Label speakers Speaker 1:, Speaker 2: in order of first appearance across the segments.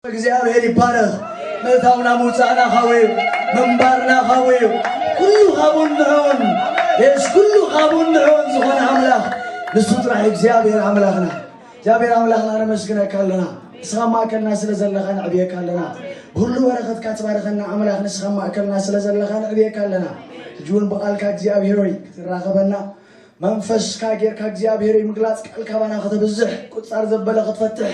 Speaker 1: እግዚኣብሔር ይባረኽ ምእታውና ምውፃእና ካብኡ እዩ ምንባርና ካብኡ እዩ ኩሉ ካብኡን ንዕኡን የስ ኩሉ ካብኡን ንዕኡን ዝኾነ ኣምላኽ ንሱ ጥራሕ እግዚኣብሔር ኣምላኽና እግዚኣብሔር ኣምላኽና ነመስግነካ ኣለና ንስኻ ኣብ ማእከልና ስለ ዘለኻ ነዕብየካ ኣለና ብኩሉ በረኸትካ ትባርኸና ኣምላኽ ንስኻ ኣብ ማእከልና ስለ ዘለኻ ነዕብየካ ኣለና ሕጂ እውን ብቓልካ እግዚኣብሔር ሆይ ክትራኸበና መንፈስካ ጌርካ እግዚኣብሔር ሆይ ምግላፅ ቃል ካባና ከተብዝሕ ቁፃር ዘበለ ክትፈትሕ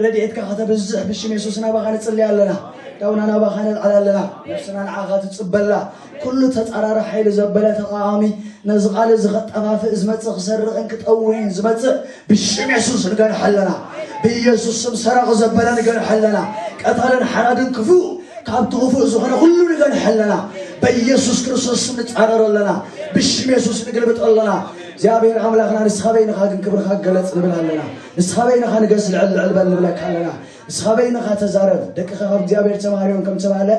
Speaker 1: ረድኤትካ ከተብዝሕ ብሽም የሱስ ናባኻ ንፅልያ ኣለና ዳውና ናባኻ ነልዓል ኣለና ነብስና ንዓኻ ትፅበላ ኩሉ ተጻራሪ ሓይሊ ዘበለ ተቓዋሚ ነዚ ቃል እዚ ከጠፋፍእ ዝመጽእ ክሰርቕን ክጠውይን ዝመጽእ ብሽም የሱስ ንገንሐ ኣለና። ብኢየሱስ ስም ሰራቒ ዘበለ ንገንሐ ኣለና። ቀታልን ሓራድን ክፉእ ካብቲ ክፉእ ዝኾነ ኩሉ ንገንሐ ኣለና። በኢየሱስ ክርስቶስ ስም ንጻረሮ ኣለና። ብሽም የሱስ ንግልብጦ ኣለና። እግዚኣብሔር ኣምላኽና ንስኻ በይንኻ ግን ክብርኻ ገለጽ ንብል ኣለና። ንስኻ በይንኻ ንገስ ልዕል ልዕል በል ንብለካ ኣለና። ንስኻ በይንኻ ተዛረብ። ደቅኻ ካብ እግዚኣብሔር ተማሃርዮም ከም ተባህለ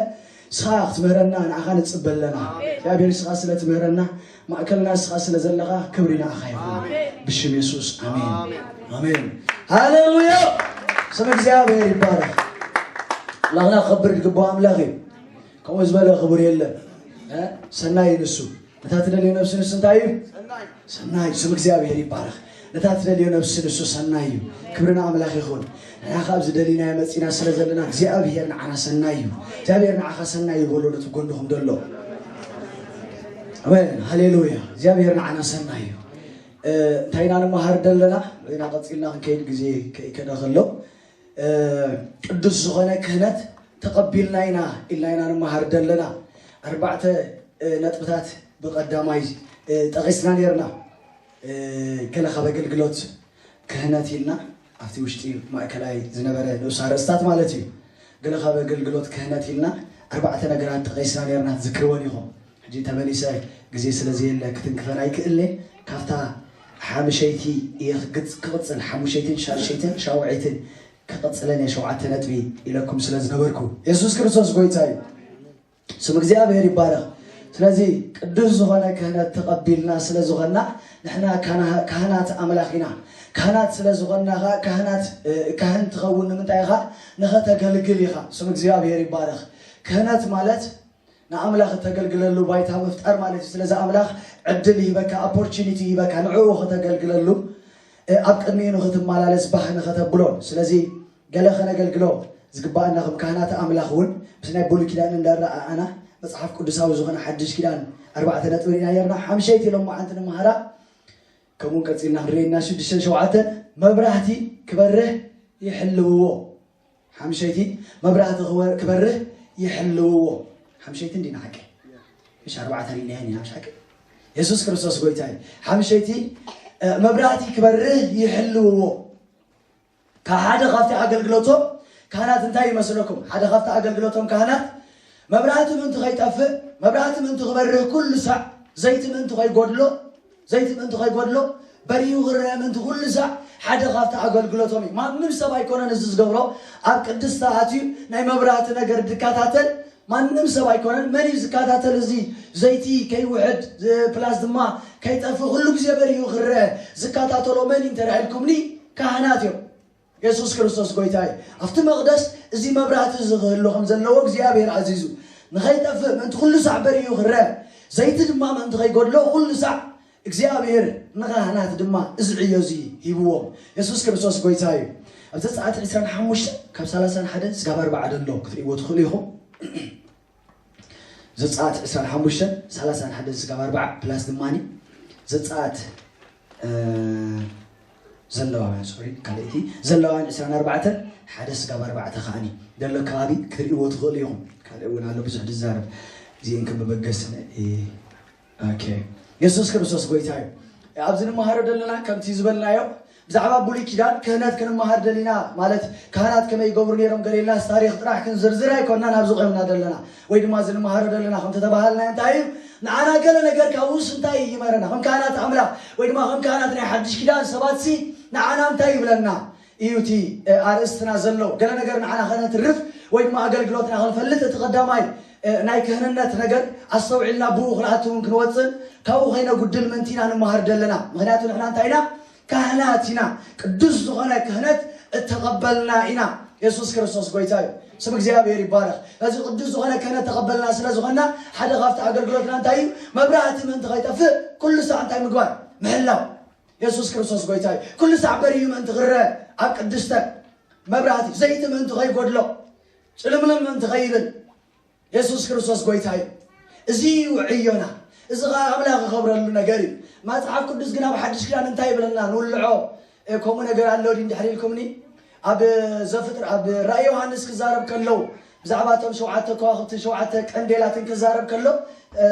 Speaker 1: ንስኻ ክትምህረና ንዓኻ ንጽበ ኣለና እግዚኣብሔር ንስኻ ስለ ትምህረና ማእከልና ንስኻ ስለ ዘለኻ ክብሪ ንዓኻ ይኹን ብሽም የሱስ ኣሜን ኣሜን ሃሌሉያ ስም እግዚኣብሔር ይባረክ ኣምላኽና ክኸብር ዝግባኦ ኣምላኽ እዩ ከምኡ ዝበለ ክቡር የለን እ? ሰናይ ንሱ ነታ ትደልዮ ነብሲ ንሱ እንታይ እዩ ሰናይ እዩ ስም እግዚኣብሔር ይባረኽ ነታ ትደልዮ ነብሲ ንሱ ሰናይ እዩ ክብሪ ንኣምላኽ ይኹን ንሕና ካብ ዝደሊናዮ መፂና ስለ ዘለና እግዚኣብሔር ንዓና ሰናይ እዩ እግዚኣብሔር ንዓኻ ሰናይ እዩ በሎ ነቲ ጎንኹም ደሎ ኣሜን ሃሌሉያ እግዚኣብሔር ንዓና ሰናይ እዩ እ፣ እንታይ ኢና ንመሃር ደለና ወይና ቀፂልና ክንከይድ ግዜ ከይከደ ከሎ ቅዱስ ዝኾነ ክህነት ተቐቢልና ኢና ኢልና ኢና ንመሃር ዘለና ኣርባዕተ ነጥብታት ብቐዳማይ ጠቒስና ነርና ገለ ካብ ኣገልግሎት ክህነት ኢልና ኣብቲ ውሽጢ ማእከላይ ዝነበረ ንኡስ ኣርእስታት ማለት እዩ ገለ ካብ ኣገልግሎት ክህነት ኢልና ኣርባዕተ ነገራት ጠቒስና ነርና ትዝክርወን ኢኹም ሕጂ ተመሊሰ ግዜ ስለ ዘየለ ክትንክፈን ኣይክእልን'የ፣ ካብታ ሓምሸይቲ እየ ክቕጽል፣ ሓሙሸይትን ሻድሸይትን ሻውዐይትን ክቕጽለን'የ ሸውዓተ ነጥቢ ኢለኩም ስለ ዝነበርኩ። የሱስ ክርስቶስ ጎይታ እዩ። ስም እግዚኣብሔር ይባረኽ። ስለዚ ቅዱስ ዝኾነ ክህነት ተቐቢልና ስለ ዝኾንና ንሕና ካህናት ኣምላኽ ኢና። ካህናት ስለ ዝኾንና ኸኣ ካህናት ካህን ትኸውን ንምንታይ ኢኻ ንኸተገልግል ኢኻ። ስም እግዚኣብሔር ይባረኽ። ክህነት ማለት ንኣምላኽ እተገልግለሉ ባይታ ምፍጣር ማለት እዩ። ስለዚ ኣምላኽ ዕድል ይህበካ፣ ኦፖርቹኒቲ ይህበካ፣ ንዕኡ ከተገልግለሉ፣ ኣብ ቅድሚኡ ንክትመላለስ ባህ ንኸተብሎ። ስለዚ ገለ ከነገልግሎ ዝግባኣና ከም ካህናት ኣምላኽ እውን ምስ ናይ ብሉይ ኪዳን እንዳረኣኣና መጽሓፍ ቅዱሳዊ ዝኾነ ሓድሽ ኪዳን ኣርባዕተ ነጥቢ ርኢና ነርና ሓምሸይቲ ሎማዓንቲ ንመሃራ ከምኡ ቀፂልና ክንርኢና ሽዱሽተን ሸውዓተን መብራህቲ ክበርህ ይሕልውዎ ሓምሸይቲ መብራህቲ ክበርህ ይሕልውዎ ሓምሸይቲ እንዲና ሓቂ ምሽ ኣርባዕተ ሪናያ ኒና ምሽ ሓቂ የሱስ ክርስቶስ ጎይታ እዩ ሓምሸይቲ መብራህቲ ክበርህ ይሕልውዎ ካብ ሓደ ካብቲ ኣገልግሎቶም ካህናት እንታይ ይመስለኩም ሓደ ካብቲ ኣገልግሎቶም ካህናት መብራህቲ ምእንቲ ከይጠፍእ መብራህቲ ምእንቲ ክበርህ ኩሉ ሳዕ ዘይቲ ምእንቲ ከይጎድሎ ዘይቲ ምእንቲ ኸይጐድሎ፣ በሪሁ ኽረኣ ምእንቲ ዅሉ ሳዕ፣ ሓደ ኻብቲ ኣገልግሎቶም እዩ። ማንም ሰብ ኣይኰነን እዚ ዚገብሮ። ኣብ ቅድስቲ ኣትዩ ናይ መብራህቲ ነገር ዚከታተል ማንም ሰብ ኣይኰነን። መን እዩ ዚከታተል እዚ ዘይቲ ከይውሕድ፣ ፕላስ ድማ ከይጠፍእ ዅሉ ግዜ በሪሁ ኽረኣ ዚከታተሎ መን እዩ እንተ ኢልኩምኒ፣ ካህናት እዮም። የሱስ ክርስቶስ ጐይታ እዩ። ኣብቲ መቕደስ እዚ መብራህቲ እዚ ኽህሉ ኸም ዘለዎ እግዚኣብሄር ኣዚዙ፣ ንኸይጠፍእ ምእንቲ ዅሉ ሳዕ በሪሁ ኽርአ፣ ዘይቲ ድማ ምእንቲ ኸይጐድሎ ዅሉ ሳዕ እግዚኣብሄር ንኻህናት ድማ እዚ ዕዮ እዚ ሂብዎም። የሱስ ክርስቶስ ጐይታ እዩ። ኣብ ዘጸኣት ዕስራን ሓሙሽተን ካብ ሰላሳን ሓደን ስጋብ ኣርባዓ ዘሎ ክትርእይዎ ትኽእሉ ኢኹም። ዘፀኣት ዕስራን ሓሙሽተን ሰላሳን ሓደን ስጋብ ኣርባዓ ፕላስ ድማኒ ዘፀኣት ዘለዋውያን ሶሪ ካልእቲ ዘለዋውያን ዕስራን ኣርባዕተን ሓደ ስጋብ ኣርባዕተ ከዓኒ ዘሎ ከባቢ ክትሪእዎ ትኽእሉ ኢኹም ካልእ እውን ኣሎ ብዙሕ ዝዛረብ እዚኤን ከም መበገሲ ኦኬ የሱስ ክርስቶስ ጎይታ እዩ ኣብዚ ንመሃሮ ዘለና ከምቲ ዝበልናዮ ብዛዕባ ብሉይ ኪዳን ክህነት ክንመሃር ደሊና ማለት ካህናት ከመይ ይገብሩ ነይሮም ገሌናስ ታሪክ ጥራሕ ክንዝርዝር ኣይኮናን ኣብዚ ቆምና ዘለና ወይ ድማ እዚ ንመሃሮ ዘለና ከም ተተባሃልና እንታይ እዩ ንዓና ገለ ነገር ካብኡስ እንታይ እዩ ይመረና ከም ካህናት ኣምላኽ ወይ ድማ ከም ካህናት ናይ ሓድሽ ኪዳን ሰባትሲ ንዓና እንታይ ይብለና እዩ እቲ ኣርእስትና ዘሎ። ገለ ነገር ንዓና ከነትርፍ ወይ ድማ ኣገልግሎትና ክንፈልጥ እቲ ቀዳማይ ናይ ክህንነት ነገር ኣስተውዒልና ብኡ ክንኣትውን ክንወፅን ካብኡ ከይነጉድል ምእንቲ ኢና ንመሃር ዘለና። ምክንያቱ ንሕና እንታይ ኢና? ካህናት ኢና። ቅዱስ ዝኾነ ክህነት እተቐበልና ኢና። የሱስ ክርስቶስ ጎይታ እዩ። ስም እግዚኣብሔር ይባረኽ። እዚ ቅዱስ ዝኾነ ክህነት ተቐበልና ስለ ዝኾንና ሓደ ካብቲ ኣገልግሎትና እንታይ እዩ? መብራህቲ ምእንቲ ከይጠፍእ ኩሉ ሳዕ እንታይ ምግባር? ምሕላው። የሱስ ክርስቶስ ጎይታ እዩ ኩሉ ሳዕ በሪሁ ምእንቲ ክረእ ኣብ ቅድስተ መብራህቲ ዘይቲ ምእንቲ ከይጎድሎ ጭልምልም ምእንቲ ከይብል የሱስ ክርስቶስ ጎይታ እዩ እዚ እዩ ዕዮና እዚ ከዓ ኣምላኽ ክኸብረሉ ነገር እዩ መፅሓፍ ቅዱስ ግን ኣብ ሓድሽ ክዳን እንታይ ይብለና ንውልዖ ከምኡ ነገር ኣሎ ድሕሪ ኢልኩምኒ ኣብ ዘፍጥረ ኣብ ራእይ ዮሃንስ ክዛረብ ከሎ ብዛዕባ እቶም ሸውዓተ ከዋኽብትን ሸውዓተ ቀንዴላትን ክዛረብ ከሎ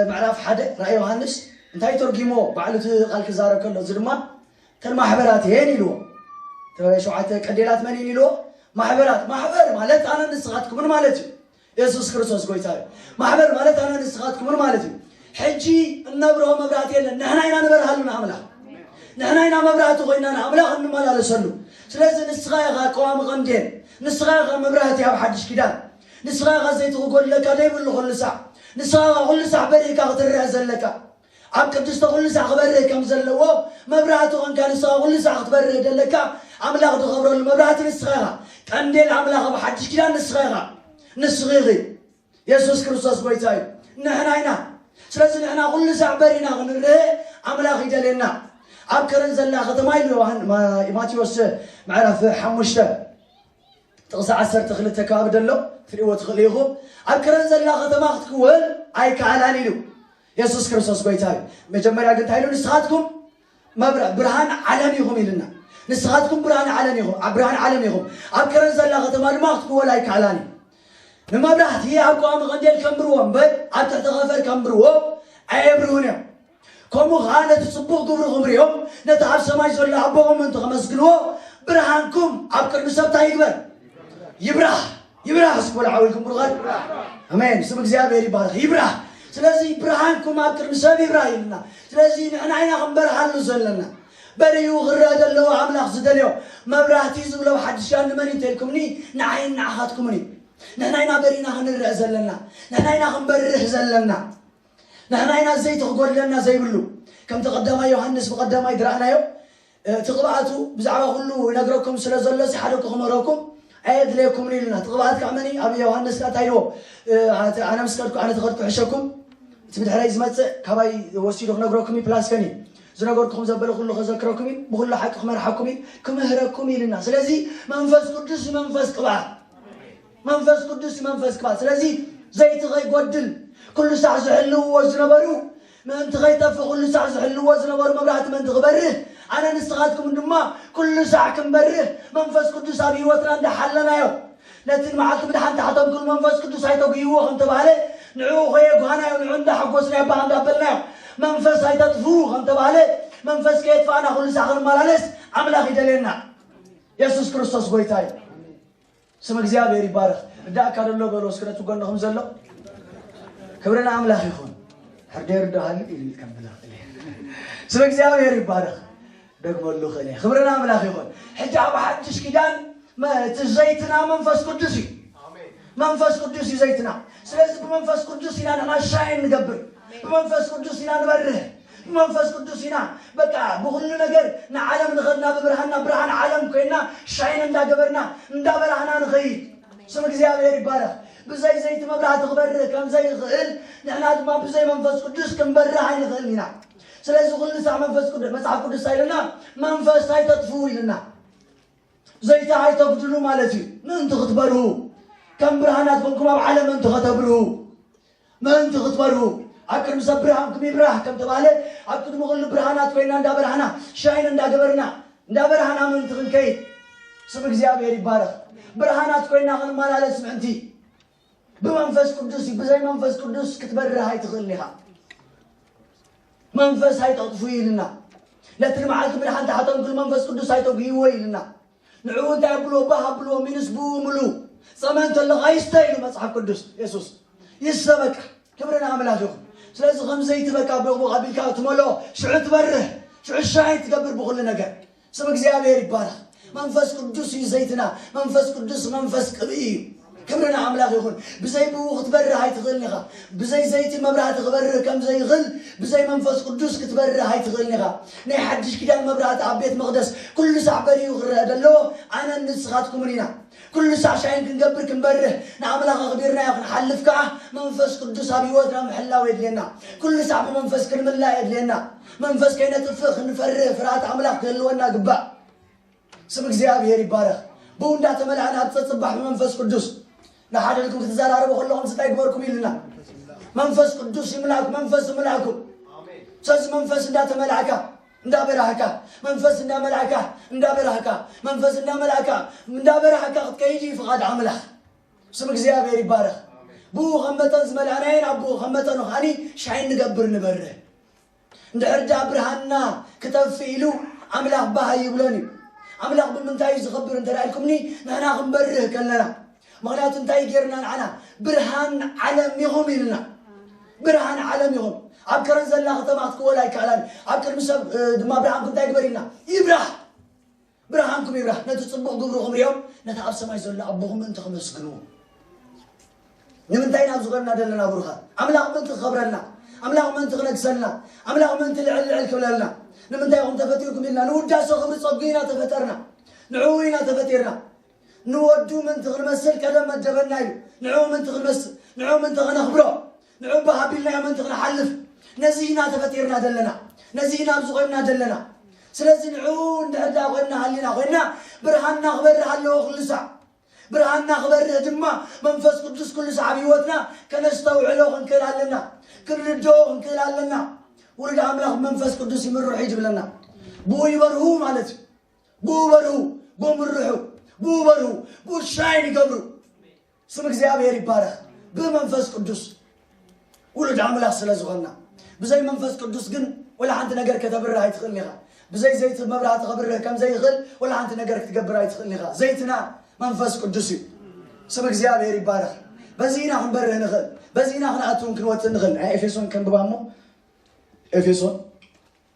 Speaker 1: ምዕራፍ ሓደ ራእይ ዮሃንስ እንታይ ተርጊሞ ባዕሉ እቲ ቃል ክዛረብ ከሎ እዚ ድማ እተን ማሕበራት እየን ኢልዎ ሸውዓተ ቀንዴላት መን እየን ኢልዎ ማሕበራት ማሕበር ማለት ኣነ ንስኻትኩምን ማለት እዩ የሱስ ክርስቶስ ጎይታ እዩ። ማሕበር ማለት ኣነ ንስኻትኩምን ማለት እዩ። ሕጂ እነብርሆ መብራህቲ የለን። ንሕና ኢና ንበርሃሉ ንኣምላኽ ንሕና ኢና መብራህቲ ኮይና ንኣምላኽ እንመላለሰሉ። ስለዚ ንስኻ ኢኻ ቀዋሚ ቀንዴል፣ ንስኻ ኢኻ መብራህቲ ኣብ ሓድሽ ኪዳን፣ ንስኻ ኢኻ ዘይቲ ክጎድለካ ዘይብሉ ኩሉ ሳዕ፣ ንስኻ ኢኻ ኩሉ ሳዕ በሪህካ ክትርህ ዘለካ። ኣብ ቅድስተ ኩሉ ሳዕ ክበርህ ከም ዘለዎ መብራህቲ ኮንካ ንስኻ ኩሉ ሳዕ ክትበርህ ደለካ ኣምላኽ ድኸብረሉ መብራህቲ ንስኻ ኢኻ ቀንዴል ኣምላኽ ኣብ ሓድሽ ኪዳን ንስኻ ኢኻ ንስኺ ኢኺ የሱስ ክርስቶስ ጎይታ እዩ ንሕና ኢና ስለዚ ንሕና ኩሉ ሳዕ በሪና ክንርህ ኣምላኽ ይደልየና ኣብ ከረን ዘላ ከተማ ኢሉ ዮሃን ማቴዎስ ምዕራፍ ሓሙሽተ ጥቕሲ ዓሰርተ ክልተ ከባቢ ደሎ ትርእይዎ ትኽእሉ ኢኹም ኣብ ከረን ዘላ ከተማ ክትክወል ኣይከኣላን ኢሉ የሱስ ክርስቶስ ጎይታ እዩ መጀመርያ ግን እንታይ ኢሉ ንስኻትኩም መብረ ብርሃን ዓለም ኢኹም ኢልና ንስኻትኩም ብርሃን ዓለም ኢኹም ኣብ ብርሃን ዓለም ኢኹም ኣብ ከረን ዘላ ከተማ ድማ ክትክወል ኣይከኣላን እዩ ንመብራህቲ ኣብ ቀዋሚ ቀንዴል ከንብርዎ እምበር ኣብ ትሕቲ ኸፈር ከንብርዎ ኣየብርሁን እዮም ከምኡ ከዓ ነቲ ፅቡቕ ግብርኹም ሪኦም ነቲ ኣብ ሰማይ ዘሎ ኣቦኹም እንተ ከመስግንዎ ብርሃንኩም ኣብ ቅድሚ ሰብታ ይግበር ይብራህ ይብራህ እስኪ በሉ ሓውልኩም ብሩኻት ኣሜን ስም እግዚኣብሔር ይባረኽ ይብራህ ስለዚ ብርሃንኩም ኣብ ቅድሚ ሰብ ይብራህ ኢልና ስለዚ ንሕና ኢና ክንበርሃሉ ዘለና በሪኡ ክረአ ዘለዎ ኣምላኽ ዝደልዮ መብራህቲ ዝብሎ ሓድሻ ንመን እዩ እንተልኩምኒ ንዓይን ንዓኻትኩምን እዩ ንሕና ኢና በሪእና ክንረአ ዘለና ንሕና ኢና ክንበርህ ዘለና ንሕና ኢና ዘይቲ ክጎድለና ዘይብሉ ከምቲ ቀዳማይ ዮሃንስ ብቀዳማይ ድረኣናዮ እቲ ቅብኣቱ ብዛዕባ ኩሉ ይነግረኩም ስለ ዘሎሲ ሓደ እኮ ክምህረኩም ኣየድለየኩምን ኢሉና እቲ ቅብኣት ከዓ መን ኣብ ዮሃንስ ከዓ እንታይ ኢልዎ ኣነ ምስ ከድኩ ኣነ ተኸድኩ ሕሸኩም እቲ ብድሕረይ ዝመፅእ ካባይ ወሲዱ ክነግረኩም እዩ ፕላስ ከን እዩ ዝነገርኩኹም ዘበለ ኩሉ ከዘክረኩም እዩ ብኩሉ ሓቂ ክመርሓኩም እዩ ክምህረኩም ኢልና ስለዚ መንፈስ ቅዱስ እዩ መንፈስ ቅብኣት መንፈስ ቅዱስ እዩ መንፈስ ቅብኣት ስለዚ ዘይቲ ከይጎድል ኩሉ ሳዕ ዝሕልውዎ ዝነበሩ ምእንቲ ኸይጠፍእ ዅሉ ሳዕ ዚሕልዎ ዝነበሩ መብራህቲ ምእንቲ ኺበርህ፣ ኣነን ንስኻትኩምን ድማ ኵሉ ሳዕ ክንበርህ፣ መንፈስ ቅዱስ ኣብ ህይወትና እንዳ ሓለናዮ፣ ነቲ ንመዓልቲ ምድሓን ተሓተምክሉ መንፈስ ቅዱስ ኣይተጕህይዎ ኸም እተባህለ፣ ንዕኡ ኸየጕሃናዮ፣ ንዕኡ እንዳ ሓጐስናዮ ባህ እንዳ ኣበልናዮ፣ መንፈስ ኣይተጥፍኡ ኸም እተባህለ፣ መንፈስ ከየጥፋእና ዅሉ ሳዕ ኽንመላለስ ኣምላኽ ይደልየና። የሱስ ክርስቶስ ጐይታ እዩ። ስም እግዚኣብሔር ይባረኽ ርዳእካ ደሎ በሎ እስኪ ነቲ ጎንኹም ዘሎ ክብሪ ንኣምላኽ ይኹን ሕርደይ ርዳሃሉ ኢሉ ከም ብላ ስም እግዚኣብሔር ይባረኽ ደግመሉ ክእለ ክብሪ ንኣምላኽ ይኹን ሕጂ ኣብ ሓድሽ ኪዳን መ- እቲ ዘይትና መንፈስ ቅዱስ እዩ መንፈስ ቅዱስ እዩ ዘይትና ስለዚ ብመንፈስ ቅዱስ ኢና ንሕና ሻይን ንገብር ብመንፈስ ቅዱስ ኢና ንበርህ ብመንፈስ ቅዱስ ኢና በቃ ብኹሉ ነገር ንዓለም ንኸድና ብብርሃንና ብርሃን ዓለም ኮይና ሻይን እንዳገበርና እንዳበራህና ንኸይድ ስም እግዚኣብሔር ይባረኽ ብዘይ ዘይቲ መብራህቲ ክበርህ ከም ዘይኽእል ንሕና ድማ ብዘይ መንፈስ ቅዱስ ክንበርህ ኣይንኽእል ኢና ስለዚ ኩሉ ሳዕ መንፈስ ቅዱስ መጽሓፍ ቅዱስ እንታይ ኢሉና መንፈስ ኣይተጥፍኡ ኢሉና ዘይቲ ኣይተጉድሉ ማለት እዩ ምእንቲ ክትበርሁ ከም ብርሃናት ኮንኩም ኣብ ዓለም ምእንቲ ከተብርሁ ምእንቲ ክትበርሁ ኣብ ቅድሚ ሰብ ብርሃንኩም ይብራህ ከም ተባህለ ኣብ ቅድሚ ኩሉ ብርሃናት ኮይና እንዳበርሃና ሻይን እንዳገበርና እንዳበርሃና ምእንቲ ክንከይድ ስም እግዚኣብሔር ይባረኽ ብርሃናት ኮይና ክንመላለስ ምእንቲ ብመንፈስ ቅዱስ እዩ ብዘይ መንፈስ ቅዱስ ክትበርህ ኣይትኽእልን ኢኻ መንፈስ ኣይተቕጥፉ ኢልና ነቲ ንመዓልቲ ምድሓን ተሓተንክሉ መንፈስ ቅዱስ ኣይተጉህይዎ ኢልና ንዕኡ እንታይ ኣብልዎ ባህ ኣብልዎ ሚንስ ብኡ ምሉ ጸመ እንተሎ ኣይስተ ኢሉ መጽሓፍ ቅዱስ የሱስ ይሰበካ ክብሪ ንኣምላኽ ይኹን ስለዚ ከምዘይቲ በቃ ቦቕቦቕ ኣቢልካ ትመልኦ ሽዑ ትበርህ ሽዑ ሻይን ትገብር ብኹሉ ነገር ስም እግዚኣብሔር ይባረኽ መንፈስ ቅዱስ እዩ ዘይትና መንፈስ ቅዱስ መንፈስ ቅብኢ እዩ ክብሪ ንኣምላኽ ይኹን። ብዘይ ብእኡ ክትበርህ ኣይትኽእልን ኢኻ። ብዘይ ዘይቲ መብራህቲ ክበርህ ከም ዘይኽእል ብዘይ መንፈስ ቅዱስ ክትበርህ ኣይትኽእልን ኢኻ። ናይ ሓድሽ ኪዳን መብራህቲ ኣብ ቤት መቕደስ ኩሉ ሳዕ በሪሁ ክረኣ ዘለዎ ኣነን ንስኻትኩምን ኢና። ኩሉ ሳዕ ሻይን ክንገብር ክንበርህ ንኣምላኽ ኣኽቢርናዮ ክንሓልፍ ከኣ መንፈስ ቅዱስ ኣብ ህይወትና ምሕላው የድልየና። ኩሉ ሳዕ ብመንፈስ ክንምላእ የድልየና። መንፈስ ከይነጥፍእ ክንፈርህ ፍርሃት ኣምላኽ ክህልወና ግባእ። ስም እግዚኣብሔር ይባረኽ ብኡ እንዳተመላእና ኣብ ጸጽባሕ ብመንፈስ ቅዱስ ንሓደ ልኩም ክትዘራረቡ ከለኹም ስታይ ግበርኩም ይልና መንፈስ ቅዱስ ይምላክ መንፈስ ይምላኩም ስለዚ መንፈስ እንዳተመላእካ እንዳበራህካ መንፈስ እንዳመላእካ እንዳበራህካ መንፈስ እንዳመላእካ እንዳበራህካ ክትከይድ እዩ ፍቓድ ኣምላኽ ስም እግዚኣብሔር ይባረኽ ብኡ ከም መጠን ዝመላእናየን ኣቦ ከም መጠኑ ከዓኒ ሻይን ንገብር ንበርህ እንድሕር ደኣ ብርሃንና ክጠፍእ ኢሉ ኣምላኽ ባህ ኣይብሎን እዩ። ኣምላኽ ብምንታይ እዩ ዝኸብር እንተ ኢልኩምኒ ንሕና ክንበርህ ከለና ምክንያቱ እንታይ ጌርና ንዓና ብርሃን ዓለም ኢኹም ኢልና ብርሃን ዓለም ኢኹም ኣብ ከረን ዘላ ከተማ ክትክወል ኣይከኣላን ኣብ ቅድሚ ሰብ ድማ ብርሃንኩም እንታይ ግበር ኢልና ይብራህ ብርሃንኩም ይብራህ፣ ነቲ ጽቡቕ ግብርኹም ርእዮም ነቲ ኣብ ሰማይ ዘሎ ኣቦኹም ምእንቲ ክመስግንዎ። ንምንታይ ኢና ኣብዚ ኮንና ዘለና ብሩኻት? ኣምላኽ ምእንቲ ክኸብረልና፣ ኣምላኽ ምእንቲ ክነግሰልና፣ ኣምላኽ ምእንቲ ልዕል ልዕል ክብለልና። ንምንታይ ኢኹም ተፈጢርኩም ኢልና ንውዳሰ ክብሪ ጸጉ ኢና ተፈጠርና። ንዕኡ ኢና ተፈጢርና። ንወዱ ምእንቲ ክንመስል ቀደም መደበና እዩ። ንዕኡ ምእንቲ ክንመስል፣ ንዕኡ ምእንቲ ከነኽብሮ። ንዑ ባህ ኣቢልናዮ ምእንቲ ክንሓልፍ ነዚ ኢና ተፈጢርና ዘለና፣ ነዚ ኢና ኣብዚ ኾይንና ዘለና። ስለዚ ንዑ እንድሕር ደኣ ኾይንና ሃሊና ኾይንና ብርሃንና ክበርህ ኣለዎ ኩሉ ሳዕ። ብርሃንና ክበርህ ድማ መንፈስ ቅዱስ ኩሉ ሳዕ ኣብ ህይወትና ከነስተውዕሎ ክንክእል ኣለና፣ ክንርድኦ ክንክእል ኣለና። ውሉድ ኣምላኽ ብመንፈስ ቅዱስ ይምርሑ እዩ ዝብለና። ብኡ ይበርሁ ማለት እዩ። ብኡ በርሁ፣ ብኡ ምርሑ፣ ብኡ በርሁ፣ ብኡ ሻይን ይገብሩ። ስም እግዚኣብሔር ይባረኽ ብመንፈስ ቅዱስ ውሉድ ኣምላኽ ስለ ዝኾና ብዘይ መንፈስ ቅዱስ ግን ወላ ሓንቲ ነገር ከተብርህ ኣይትኽእል ኢኻ ብዘይ ዘይቲ መብራህቲ ከብርህ ከም ዘይኽእል ወላ ሓንቲ ነገር ክትገብር ኣይትኽእል ኢኻ ዘይትና መንፈስ ቅዱስ እዩ ስም እግዚኣብሔር ይባረኽ በዚ ኢና ክንበርህ ንኽእል በዚ ኢና ክንኣትውን ክንወፅእ ንኽእል ናይ ኤፌሶን ከንብባ እሞ ኤፌሶን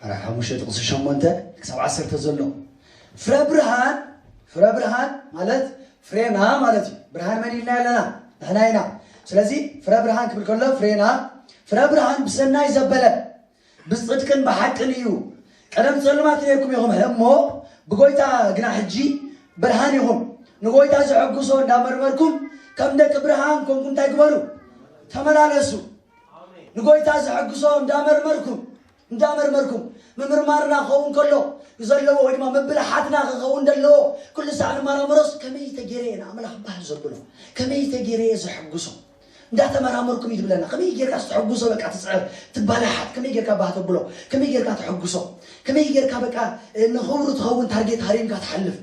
Speaker 1: ምዕራፍ ሓሙሽተ ጥቕሲ ሸሞንተ ክሳብ ዓሰርተ ዘሎ ፍረ ብርሃን ፍረ ብርሃን ማለት ፍሬና ማለት እዩ ብርሃን መን ኢልና ኣለና ንሕና ኢና ስለዚ ፍረ ብርሃን ክብል ከሎ ፍሬና ፍረ ብርሃን ብሰናይ ዘበለ ብፅድቅን ብሓቅን እዩ ቀደም ፀልማት ነርኩም ኢኹም እሞ ብጎይታ ግና ሕጂ ብርሃን ኢኹም ንጎይታ ዘሐጉሶ እንዳመርመርኩም ከም ደቂ ብርሃን ኮንኩም እንታይ ግበሩ ተመላለሱ ንጎይታ ዘሐግሶ እንዳመርመርኩም እንዳመርመርኩም ምምርማርና ክኸውን ከሎ ዘለዎ ወይ ድማ ምብልሓትና ክኸውን ዘለዎ ኩሉ ሳዕ ንመራምሮስ ከመይ ተገይረ እየ ንኣምላኽ ባህል ዘብሎ ከመይ ተገይረ እየ ዘሐግሶ እንዳተመራመርኩም እዩ ትብለና ከመይ ጌርካ ዝተሐጉሶ በቃ ትፅዕር ትባላሓት ከመይ ጌርካ ባህ ተብሎ ከመይ ጌርካ ተሐጉሶ ከመይ ጌርካ በቃ ንኽብሩ ትኸውን ታርጌት ሃሪምካ ትሓልፍ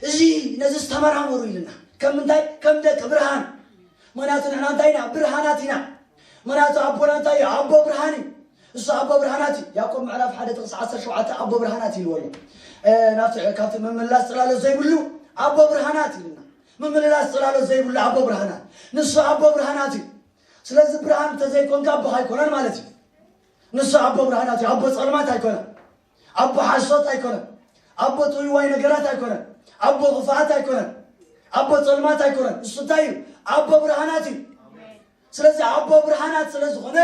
Speaker 1: እዚ ነዚስ ተመራመሩ ኢልና ከም ምንታይ ከም ደቂ ብርሃን ምክንያቱ ንሕና እንታይ ኢና ብርሃናት ኢና ምክንያቱ ኣቦና እንታይ እዩ ኣቦ ብርሃን እዩ እሱ ኣቦ ብርሃናት እዩ ያዕቆብ ምዕራፍ ሓደ ጥቕስ 17 ኣቦ ብርሃናት ኢልዎ ኣሎ ናብቲ ካብቲ ምምላስ ጽላሎ ዘይብሉ ኣቦ ብርሃናት ኢልና ምምልላስ ጽላሎ ዘይብሉ ኣቦ ብርሃናት ንሱ ኣቦ ብርሃናት እዩ ስለዚ ብርሃን እንተዘይኮንካ ኣቦኻ ኣይኮነን ማለት እዩ ንሱ ኣቦ ብርሃናት እዩ ኣቦ ጸልማት ኣይኮነን ኣቦ ሓሶት ኣይኮነን ኣቦ ጥውይዋይ ነገራት ኣይኮነን ኣቦ ክፍኣት ኣይኮነን ኣቦ ፀልማት ኣይኮነን እሱ እንታይ እዩ ኣቦ ብርሃናት እዩ ስለዚ ኣቦ ብርሃናት ስለ ዝኾነ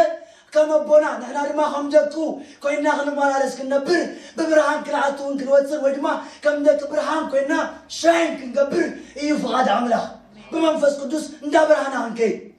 Speaker 1: ከም ኣቦና ንሕና ድማ ከም ደቁ ኮይና ክንመላለስ ክንነብር ብብርሃን ክንኣትውን ክንወፅን ወይ ድማ ከም ደቂ ብርሃን ኮይና ሻይን ክንገብር እዩ ፍቓድ ኣምላኽ ብመንፈስ ቅዱስ እንዳ ብርሃና ክንከይድ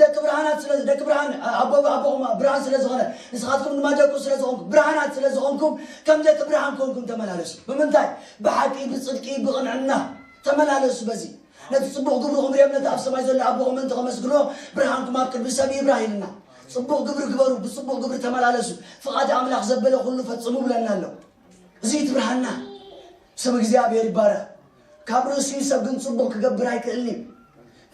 Speaker 1: ደቂ ብርሃናት ስለ ደቂ ብርሃን ኣቦ ኣቦኹም ብርሃን ስለ ዝኾነ ንስኻትኩም ድማ ደቁ ስለ ዝኾንኩም ብርሃናት ስለ ዝኾንኩም ከም ደቂ ብርሃን ኮንኩም ተመላለሱ ብምንታይ ብሓቂ ብጽድቂ ብቕንዕና ተመላለሱ በዚ ነቲ ጽቡቕ ግብርኹም ርዮም ነቲ ኣብ ሰማይ ዘሎ ኣቦኹም ምእንቲ ከመስግኖ ብርሃንኩም ኣብ ቅድሚ ሰብ ይብራህ ኢልና ጽቡቕ ግብሪ ግበሩ ብጽቡቕ ግብሪ ተመላለሱ ፍቓድ ኣምላኽ ዘበለ ኩሉ ፈጽሙ ብለና ኣሎ እዚ እቲ ብርሃንና ስም እግዚኣብሔር ይባረኽ ካብ ርእሱ እዩ ሰብ ግን ጽቡቕ ክገብር ኣይክእልን እዩ።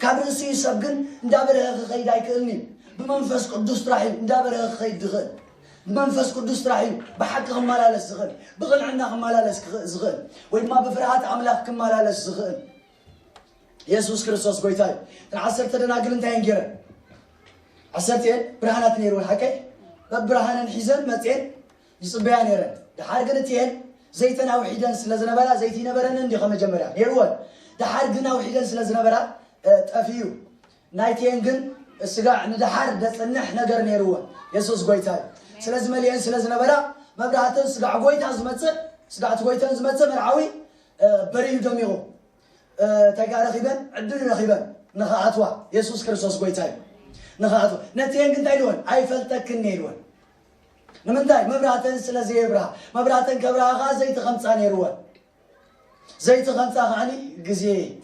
Speaker 1: ካብ ርእሱ እዩ ሰብ ግን እንዳበረኸ ክኸይድ ኣይክእልን እዩ። ብመንፈስ ቅዱስ ጥራሕ እዩ እንዳበረኸ ክኸይድ ዝኽእል። ብመንፈስ ቅዱስ ጥራሕ እዩ ብሓቂ ክመላለስ ዝኽእል፣ ብቕንዕና ክመላለስ ክኽእ- ዝኽእል ወይ ድማ ብፍርሃት ኣምላኽ ክመላለስ ዝኽእል። የሱስ ክርስቶስ ጎይታ እዩ። እተን ዓሰርተ ደናግል እንታይ እየን ገይረን? ዓሰርተ እየን ብርሃናት ነይርወን ሓቀይ በብርሃነን ሒዘን መፅኤን ይጽበያ ነይረን ደሓር ግን እቲኤን ዘይተን ኣውሒደን ስለ ዝነበራ ዘይቲ ይነበረንን እንዲ ከመጀመርያ ነይርወን ደሓር ግን ኣውሒደን ስለ ዝነበራ ጠፊኡ ናይቲኤን ግን ስጋዕ ንደሓር ደጽንሕ ነገር ነይርወን የሱስ ጎይታ እዩ ስለዚ መሊኤን ስለ ዝነበራ መብራህተን ስጋዕ ጎይታ ዝመጽእ ስጋዕቲ ጎይተን ዝመጽእ መርዓዊ በሪሁ ደሚቑ እንታይ ከዓ ረኺበን ዕድል ረኺበን ንኸኣትዋ የሱስ ክርስቶስ ጎይታ እዩ ንኸኣትዋ ነቲኤን ግን እንታይ ኢልወን ኣይፈልጠክን ነይርወን ንምንታይ መብራህተን ስለ ዘየብርሃ መብራህተን ከብርሃ ከኣ ዘይቲ ከምጻ ነይርወን ዘይቲ ከምጻ ከዓኒ ግዜ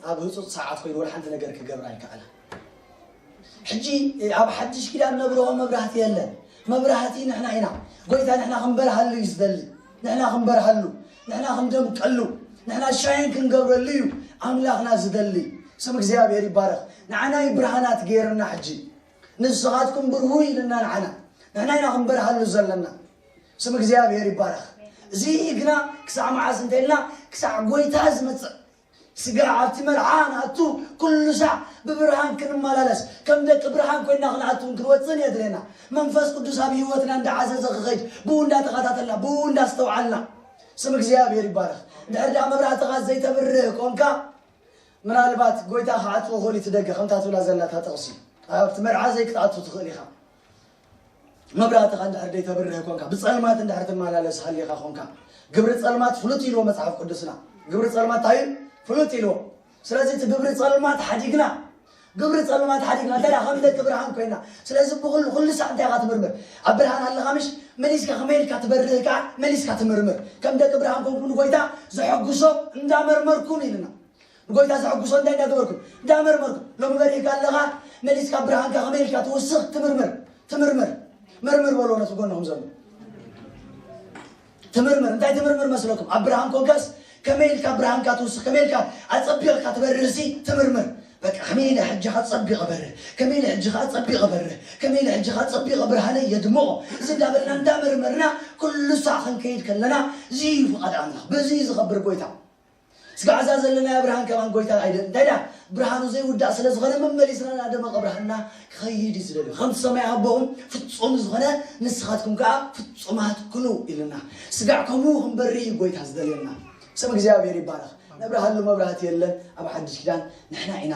Speaker 1: ኣብ ህጹጽ ሰዓት ኮይኑ ወላ ሓንቲ ነገር ክገብራ ኣይከኣላ ሕጂ ኣብ ሓድሽ ኪዳን ነብርሆ መብራህቲ የለን መብራህቲ ንሕና ኢና ጎይታ ንሕና ክንበርሃሉ እዩ ዝደሊ ንሕና ክንበርሃሉ ንሕና ክንደምቀሉ ንሕና ሻይን ክንገብረሉ እዩ ኣምላኽና ዝደሊ ስም እግዚኣብሔር ይባረኽ ንዓናይ ብርሃናት ገይርና ሕጂ ንስኻትኩም ብርሁ ኢልና ንዓና ንሕና ኢና ክንበርሃሉ ዘለና ስም እግዚኣብሔር ይባረኽ እዚ ግና ክሳዕ መዓስ እንተኢልና ክሳዕ ጎይታ ዝመፅእ ስጋ ኣብቲ መርዓ ንኣቱ ኩሉ ሳዕ ብብርሃን ክንመላለስ ከም ደቂ ብርሃን ኮይና ክንኣቱን ክንወፅን የድልየና መንፈስ ቅዱስ ኣብ ህይወትና እንዳዓዘዘ ክኸይድ ብኡ እንዳተኸታተልና ብኡ እንዳስተውዓልና ስም እግዚኣብሔር ይባረኽ እንድሕር ደኣ መብራህትኻ ዘይተብርህ ኮንካ ምናልባት ጎይታ ክዓጽዎ ክእል እቲ ደገ ከምታ ትብላ ዘላ እታ ጥቕሲ ኣብቲ መርዓ ዘይክትኣቱ ትኽእል ኢኻ መብራህትኻ እንድሕር ደይተብርህ ኮንካ ብፀልማት እንድሕር ትመላለስ ሃሊኻ ኮንካ ግብሪ ፀልማት ፍሉጥ ኢልዎ መፅሓፍ ቅዱስና ግብሪ ፀልማት እንታይ ፍሉጥ ኢልዎ ስለዚ እቲ ግብሪ ፀልማት ሓዲግና ግብሪ ጸልማት ሓዲግና እንታይ ደኣ ከም ደቂ ብርሃን ኮይና ስለዚ ብኹሉ ኩሉ ሳዕ እንታይ ኢኻ ትምርምር ኣብ ብርሃን ኣለኻ ምሽ መሊስካ ከመይ ኢልካ ትበርህ ከኣ መሊስካ ትምርምር ከም ደቂ ብርሃን ኮንኩ ንጎይታ ዘሐጉሶ እንዳ መርመርኩም ኢልና ንጎይታ ዘሐጉሶ እንታይ እንዳ ገበርኩም እንዳ መርመርኩም ሎሚ በሪህካ ኣለኻ መሊስካ ብርሃንካ ከመይ ኢልካ ትውስኽ ትምርምር ትምርምር መርምር በሎ ነቲ ጎንኹም ዘሎ ትምርምር እንታይ ትምርምር መስለኩም ኣብ ብርሃን ኮንካስ ከመይ ኢልካ ብርሃንካ ትውስኽ ከመይ ኢልካ ኣጸቢቕካ ትበርህሲ ትምርምር በቃ ከመይ ኢለ ሕጂ ከ ጸቢቐ በርህ ከመይ ኢለ ሕጂ ከኣ ጸቢቐ በርህ ከመይ ኢለ ሕጂ ከኣ ጸቢቐ ብርሃነይ የድምቖ እዚ እንዳበልና እንዳመርመርና ኩሉ ሳዕ ክንከይድ ከለና እዚ እዩ ፍቓድ ኣምላኽ በዚ እዩ ዝኸብር ጎይታ ስጋዕ እዛ ዘለናያ ብርሃን ከማን ጎይታ ናይ ደ እንታይ ደኣ ብርሃኑ ዘይውዳእ ስለ ዝኾነ መመሊስና እናደመቐ ብርሃንና ክኸይድ እዩ ዝደልዩ ከምቲ ሰማይ ኣቦኹም ፍጹም ዝኾነ ንስኻትኩም ከዓ ፍጹማት ኩኑ ኢልና ስጋዕ ከምኡ ክንበሪ እዩ ጎይታ ዝደልየና ስም እግዚኣብሔር ይባረኽ ነብርሃሉ መብራህቲ የለን ኣብ ሓድሽ ኪዳን ንሕና ኢና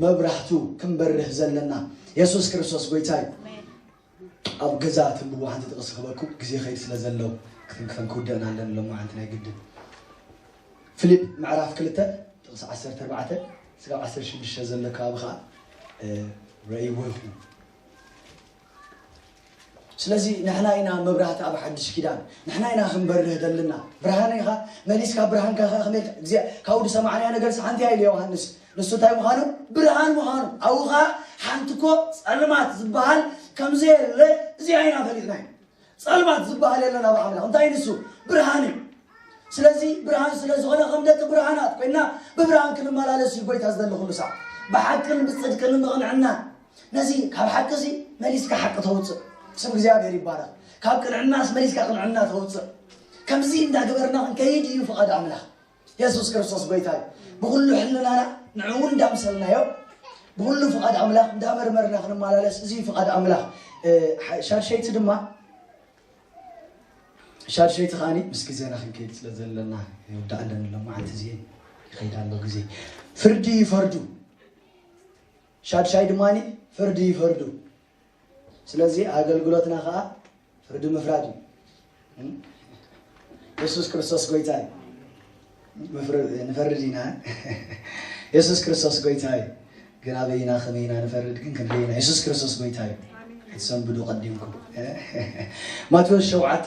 Speaker 1: መብራህቱ ክንበርህ ዘለና የሱስ ክርስቶስ ጎይታ እዩ ኣብ ገዛ ትንብቡ ሓንቲ ጥቅሲ ክበኩም ግዜ ከይድ ስለ ዘለው ክትንክፈን ክውደእን ኣለን ሎማዓንቲ ናይ ግድን ፍሊጵ ምዕራፍ ክልተ ጥቅሲ ዓሰርተ ኣርባዕተ ስጋብ ዓሰርተ ሽዱሽተ ዘሎ ከባቢ ከዓ ረእይዎ ይኹን ስለዚ ንሕና ኢና መብራህቲ ኣብ ሓድሽ ኪዳን ንሕና ኢና ክንበርህ ዘለና ብርሃን ኢኻ መሊስካ ብርሃንካ ከ ከመይ ካብኡ ዝሰማዕናዮ ነገር ሓንቲ ኢሉ ዮሃንስ ንሱ እንታይ ምዃኑ? ብርሃን ምዃኑ። ኣብኡ ኸኣ ሓንቲ እኮ ጸልማት ዝበሃል ከም ዘየለ እዚኣ ኢና ፈሊጥና ኢና። ጸልማት ዝበሃል የለን ኣብ ኣምላኽ። እንታይ ንሱ? ብርሃን እዩ። ስለዚ ብርሃን ስለ ዝኾነ ከም ደቂ ብርሃናት ኮይና ብብርሃን ክንመላለስ እዩ ጎይታ ዝደሊ ኩሉ ሰዓት ብሓቅን ብጽድቅን ምቕንዕና ነዚ ካብ ሓቂ እዚ መሊስካ ሓቂ ተውፅእ ስም እግዚኣብሔር ይባላል ካብ ቅንዕናስ መሊስካ ቅንዕና ተውፅእ ከምዚ እንዳገበርና ክንከይድ እዩ ፍቓድ ኣምላኽ የሱስ ክርስቶስ ጎይታ እዩ። ብኹሉ ሕልናና ንዕኡ እንዳምሰልናዮ ብኹሉ ፍቓድ ኣምላኽ እንዳመርመርና ክንመላለስ እዚ ፍቓድ ኣምላኽ ሻድሸይቲ ድማ ሻድሸይቲ ከዓኒ ምስ ግዜና ክንከይድ ስለ ዘለና ይወዳእ ኣለኒ ኣሎ መዓልቲ እዚ ይኸይድ ኣሎ ግዜ ፍርዲ ይፈርዱ ሻድሻይ ድማ ፍርዲ ይፈርዱ ስለዚ ኣገልግሎትና ከዓ ፍርዲ ምፍራድ እዩ እም? የሱስ ክርስቶስ ጎይታ እዩ ምፍር- ንፈርድ ኢና የሱስ ክርስቶስ ጎይታ እዩ ግን ኣበይ ኢና ከመይ ኢና ንፈርድ ግን ክንደይ ኢና የሱስ ክርስቶስ ጎይታ እዩ ክትሰንብዱ ቀዲምኩም ማቴዎስ ሸውዓተ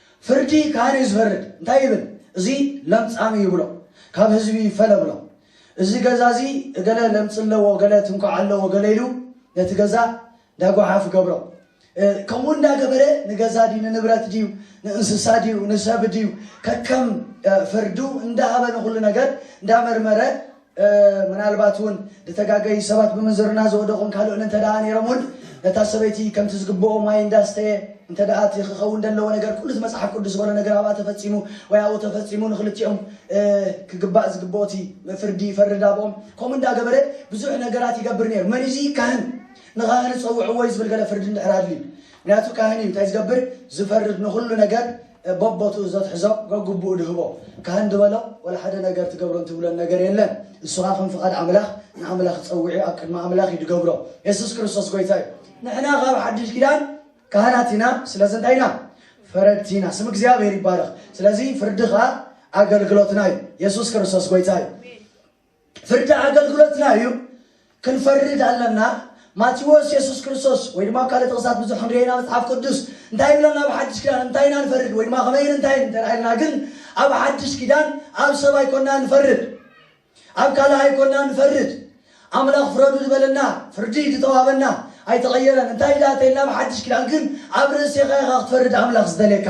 Speaker 1: ፍርዲ ካህን እዩ ዝፈርድ እንታይ ይብል እዚ ለምጻም እዩ ይብሎ ካብ ህዝቢ ይፈለ ብሎ እዚ ገዛ እዚ እገለ ለምጺ ኣለዎ ገለ ትንኳዕ ኣለዎ ገለ ኢሉ ነቲ ገዛ እንዳ ጓሓፍ ይገብሮ ከምኡ እንዳ ገበረ ንገዛ ድዩ ንንብረት ድዩ ንእንስሳ ድዩ ንሰብ ድዩ ከከም ፍርዱ እንዳ ሃበ ንኩሉ ነገር እንዳ መርመረ ምናልባት እውን ዝተጋገዩ ሰባት ብምንዝርና ዝወደቑን ካልእን እንተ ደኣ ነይሮም እውን ነታ ሰበይቲ ከምቲ ዝግብኦ ማይ እንዳስተየ እንተ ደኣ እቲ ክኸውን ዘለዎ ነገር ኩሉ እቲ መጽሓፍ ቅዱስ ዝበሎ ነገር ኣብኣ ተፈጺሙ ወይ ኣብኡ ተፈጺሙ ንክልቲኦም ክግባእ ዝግብኦ እቲ ፍርዲ ይፈርድ ኣብኦም ከምኡ እንዳገበረ ብዙሕ ነገራት ይገብር ነይሩ መን እዚ ካህን ንኻህን ጸውዕዎ እዩ ዝብል ገለ ፍርዲ እንድሕር ኣድልዩ ምክንያቱ ካህን እዩ እንታይ ዝገብር ዝፈርድ ንኹሉ ነገር በቦትኡ ዘትሕዞ ገግቡኡ ድህቦ ካህን ድበሎ ወላ ሓደ ነገር ትገብሮን ትብሎን ነገር የለን እሱ ኻኣ ከም ፍቃድ ኣምላኽ ንኣምላኽ ጸዊዑ ኣብ ቅድሚ ኣምላኽ እዩ ድገብሮ የሱስ ክርስቶስ ጎይታ እዩ ንሕና ካብ ሓድሽ ኪዳን ካህናት ኢና ስለዚ እንታይ ኢና ፈረድቲ ኢና ስም እግዚኣብሔር ይባረኽ ስለዚ ፍርዲ ኻኣ ኣገልግሎትና እዩ የሱስ ክርስቶስ ጎይታ እዩ ፍርዲ ኣገልግሎትና እዩ፣ ክንፈርድ ኣለና። ማቴዎስ የሱስ ክርስቶስ ወይ ድማ ኣብ ካልእ ጥቕስታት ብዙሕ ክንርእየና መጽሓፍ ቅዱስ እንታይ ይብለና ኣብ ሓድሽ ኪዳን እንታይ ኢና ንፈርድ ወይ ድማ ከመይን እንታይን እንተ ኢልና ግን ኣብ ሓድሽ ኪዳን ኣብ ሰብ ኣይኮና ንፈርድ ኣብ ካልእ ኣይኮና ንፈርድ ኣምላኽ ፍረዱ ዝበለና ፍርዲ ዝተዋበና ኣይተቐየረን እንታይ ዳተይልና ኣብ ሓድሽ ኪዳን ግን ኣብ ርእሴኻ ኢኻ ክትፈርድ ኣምላኽ ዝደልየካ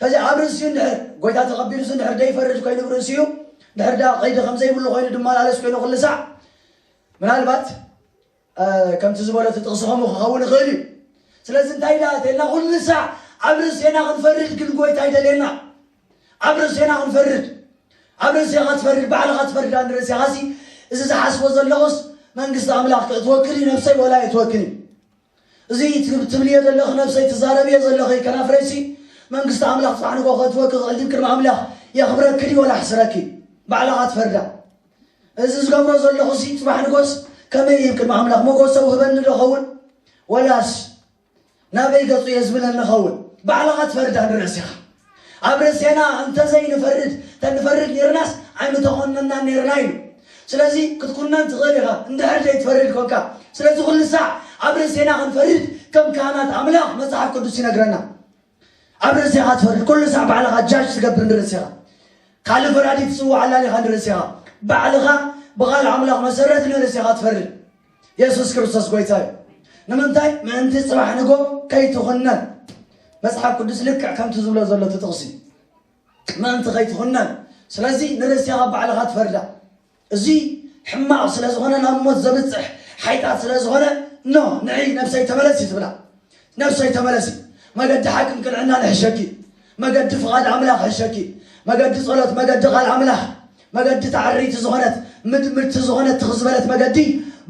Speaker 1: ከዚ ኣብ ርእሲኡ እንድሕር ጎይታ ተቐቢሉሲ እንድሕር ደይፈርድ ኮይኑ ብ ርእሲኡ እንድሕር ደኣ ቐይዲ ከም ዘይብሉ ኮይኑ ድመላለስ ኮይኑ ኩሉ ሳዕ ምናልባት ከምቲ ዝበሎ እቲ ጥቕሲ ከምኡ ክኸውን ይኽእል እዩ። ስለዚ እንታይ ደኣ ተልና ኩሉ ሳዕ ኣብ ርእሴና ክንፈርድ ግን ጎይታ ይደልየና። ኣብ ርእሴና ክንፈርድ ኣብ ርእሴኻ ትፈርድ ባዕልኻ ትፈርድ ኣን ርእሴኻሲ እዚ ዝሓስቦ ዘለኹስ መንግስቲ ኣምላኽ ክእትወክን እዩ ነብሰይ ወላ የእትወክን እዩ እዚ ትብልዮ ዘለኺ ነብሰይ ትዛረብዮ ዘለኺ ከናፍረይሲ መንግስቲ ኣምላኽ ጽባሕ ንግሆ ከእትወኪ ክእል ድዩ ቅድሚ ኣምላኽ የኽብረኪ ድዩ ወላ ኣሕስረኪ ባዕላኻ ትፈርዳ እዚ ዝገብሮ ዘለኹሲ ጽባሕ ንጎስ ከመይ እዩ ቅድሚ ኣምላኽ መጎሰ ውህበኒ ዶ ኸውን ወላስ ናበይ ገጹ እየ ዝብለኒ ኸውን ባዕላኻ ትፈርዳ ንርእሲኻ ኣብ ርእሴና እንተ ዘይንፈርድ፣ ተንፈርድ ኔርናስ ኣይምተዀንናን ኔርና ኢሉ። ስለዚ፣ ክትኵነን ትኽእል ኢኻ፣ እንድሕር ዘይትፈርድ ኰንካ። ስለዚ ኵሉ ሳዕ ኣብ ርእሴና ክንፈርድ ከም ካህናት ኣምላኽ መጽሓፍ ቅዱስ ይነግረና። ኣብ ርእሴኻ ትፈርድ፣ ኵሉ ሳዕ ባዕልኻ ጃጅ ትገብር ንርእሴኻ። ካልእ ፈራዲ ትጽውዕ ኣላሊኻ ንርእሴኻ። ባዕልኻ ብቓል ኣምላኽ መሰረት ንርእሴኻ ትፈርድ። የሱስ ክርስቶስ ጎይታ እዩ ንምንታይ ምእንቲ ጽባሕ ንጎ ከይትኹነን መጽሓፍ ቅዱስ ልክዕ ከምቲ ዝብሎ ዘሎ ትጥቕሲ ምእንቲ ከይትኹነን ስለዚ ንርእሲ ካብ ባዕልኻ ትፈርዳ እዚ ሕማቕ ስለ ዝኾነ ናብ ሞት ዘብፅሕ ሓይጣት ስለ ዝኾነ ኖ ንዒ ነብሰይ ተመለሲ ትብላ ነፍሰይ ተመለሲ መገዲ ሓቅን ቅንዕናን እሕሸኪ መገዲ ፍቓድ ኣምላኽ እሕሸኪ መገዲ ጸሎት መገዲ ቃል ኣምላኽ መገዲ እታ ዕርይቲ ዝኾነት ምድምድቲ ዝኾነት ትኽ ዝበለት መገዲ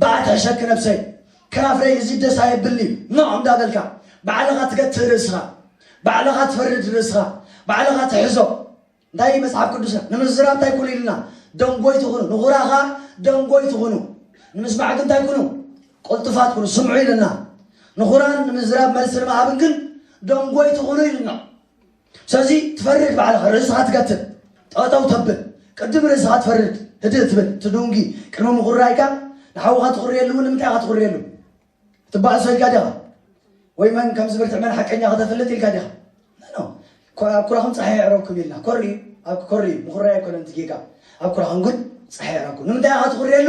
Speaker 1: በኣ ትሕሸኪ ነፍሰይ ከናፍረይ እዚ ደስ ኣየብልን'ዩ ኖዕ እንዳበልካ ባዕልኻ ትገትእ ርእስኻ ባዕልኻ ትፈርድ ርእስኻ ባዕልኻ ትሕዞ እንታይ እዩ መጽሓፍ ቅዱስና ንምዝራብ እንታይ ኩኑ ኢሉና? ደንጎይቲ ኩኑ፣ ንኹራ ኸኣ ደንጎይቲ ኩኑ፣ ንምስማዕ ግን እንታይ ኩኑ? ቅልጡፋት ኩኑ፣ ስምዑ ኢሉና። ንኹራን ንምዝራብ መልሲ ንምሃብን ግን ደንጎይቲ ኩኑ ኢሉና። ስለዚ ትፈርድ ባዕልኻ፣ ርእስኻ ትገትር፣ ጠጠው ተብል፣ ቅድም ርእስኻ ትፈርድ፣ ህድእ ትብል፣ ትዱንጊ፣ ቅድሚ ምኹራይካ ንሓውኻ ትኹርየሉ እውን ንምንታይ ኢኻ ትኹርየሉ? ክትባእሶ ኢልካ ዲኻ ወይ መን ከም ዝብርትዕ መን ሓቀኛ ከተፍልጥ ኢልካ ዲኻ ኣብ ኩራኹም ፀሓይ ኣዕረብኩም ኢልና ኮሪ ኣብ ኮሪ ምኹራይ ኣይኮነን እቲ ጌጋ ኣብ ኩራኹም ግን ፀሓይ ኣዕረብኩም ንምንታይ ኢኻ ትኹርየሉ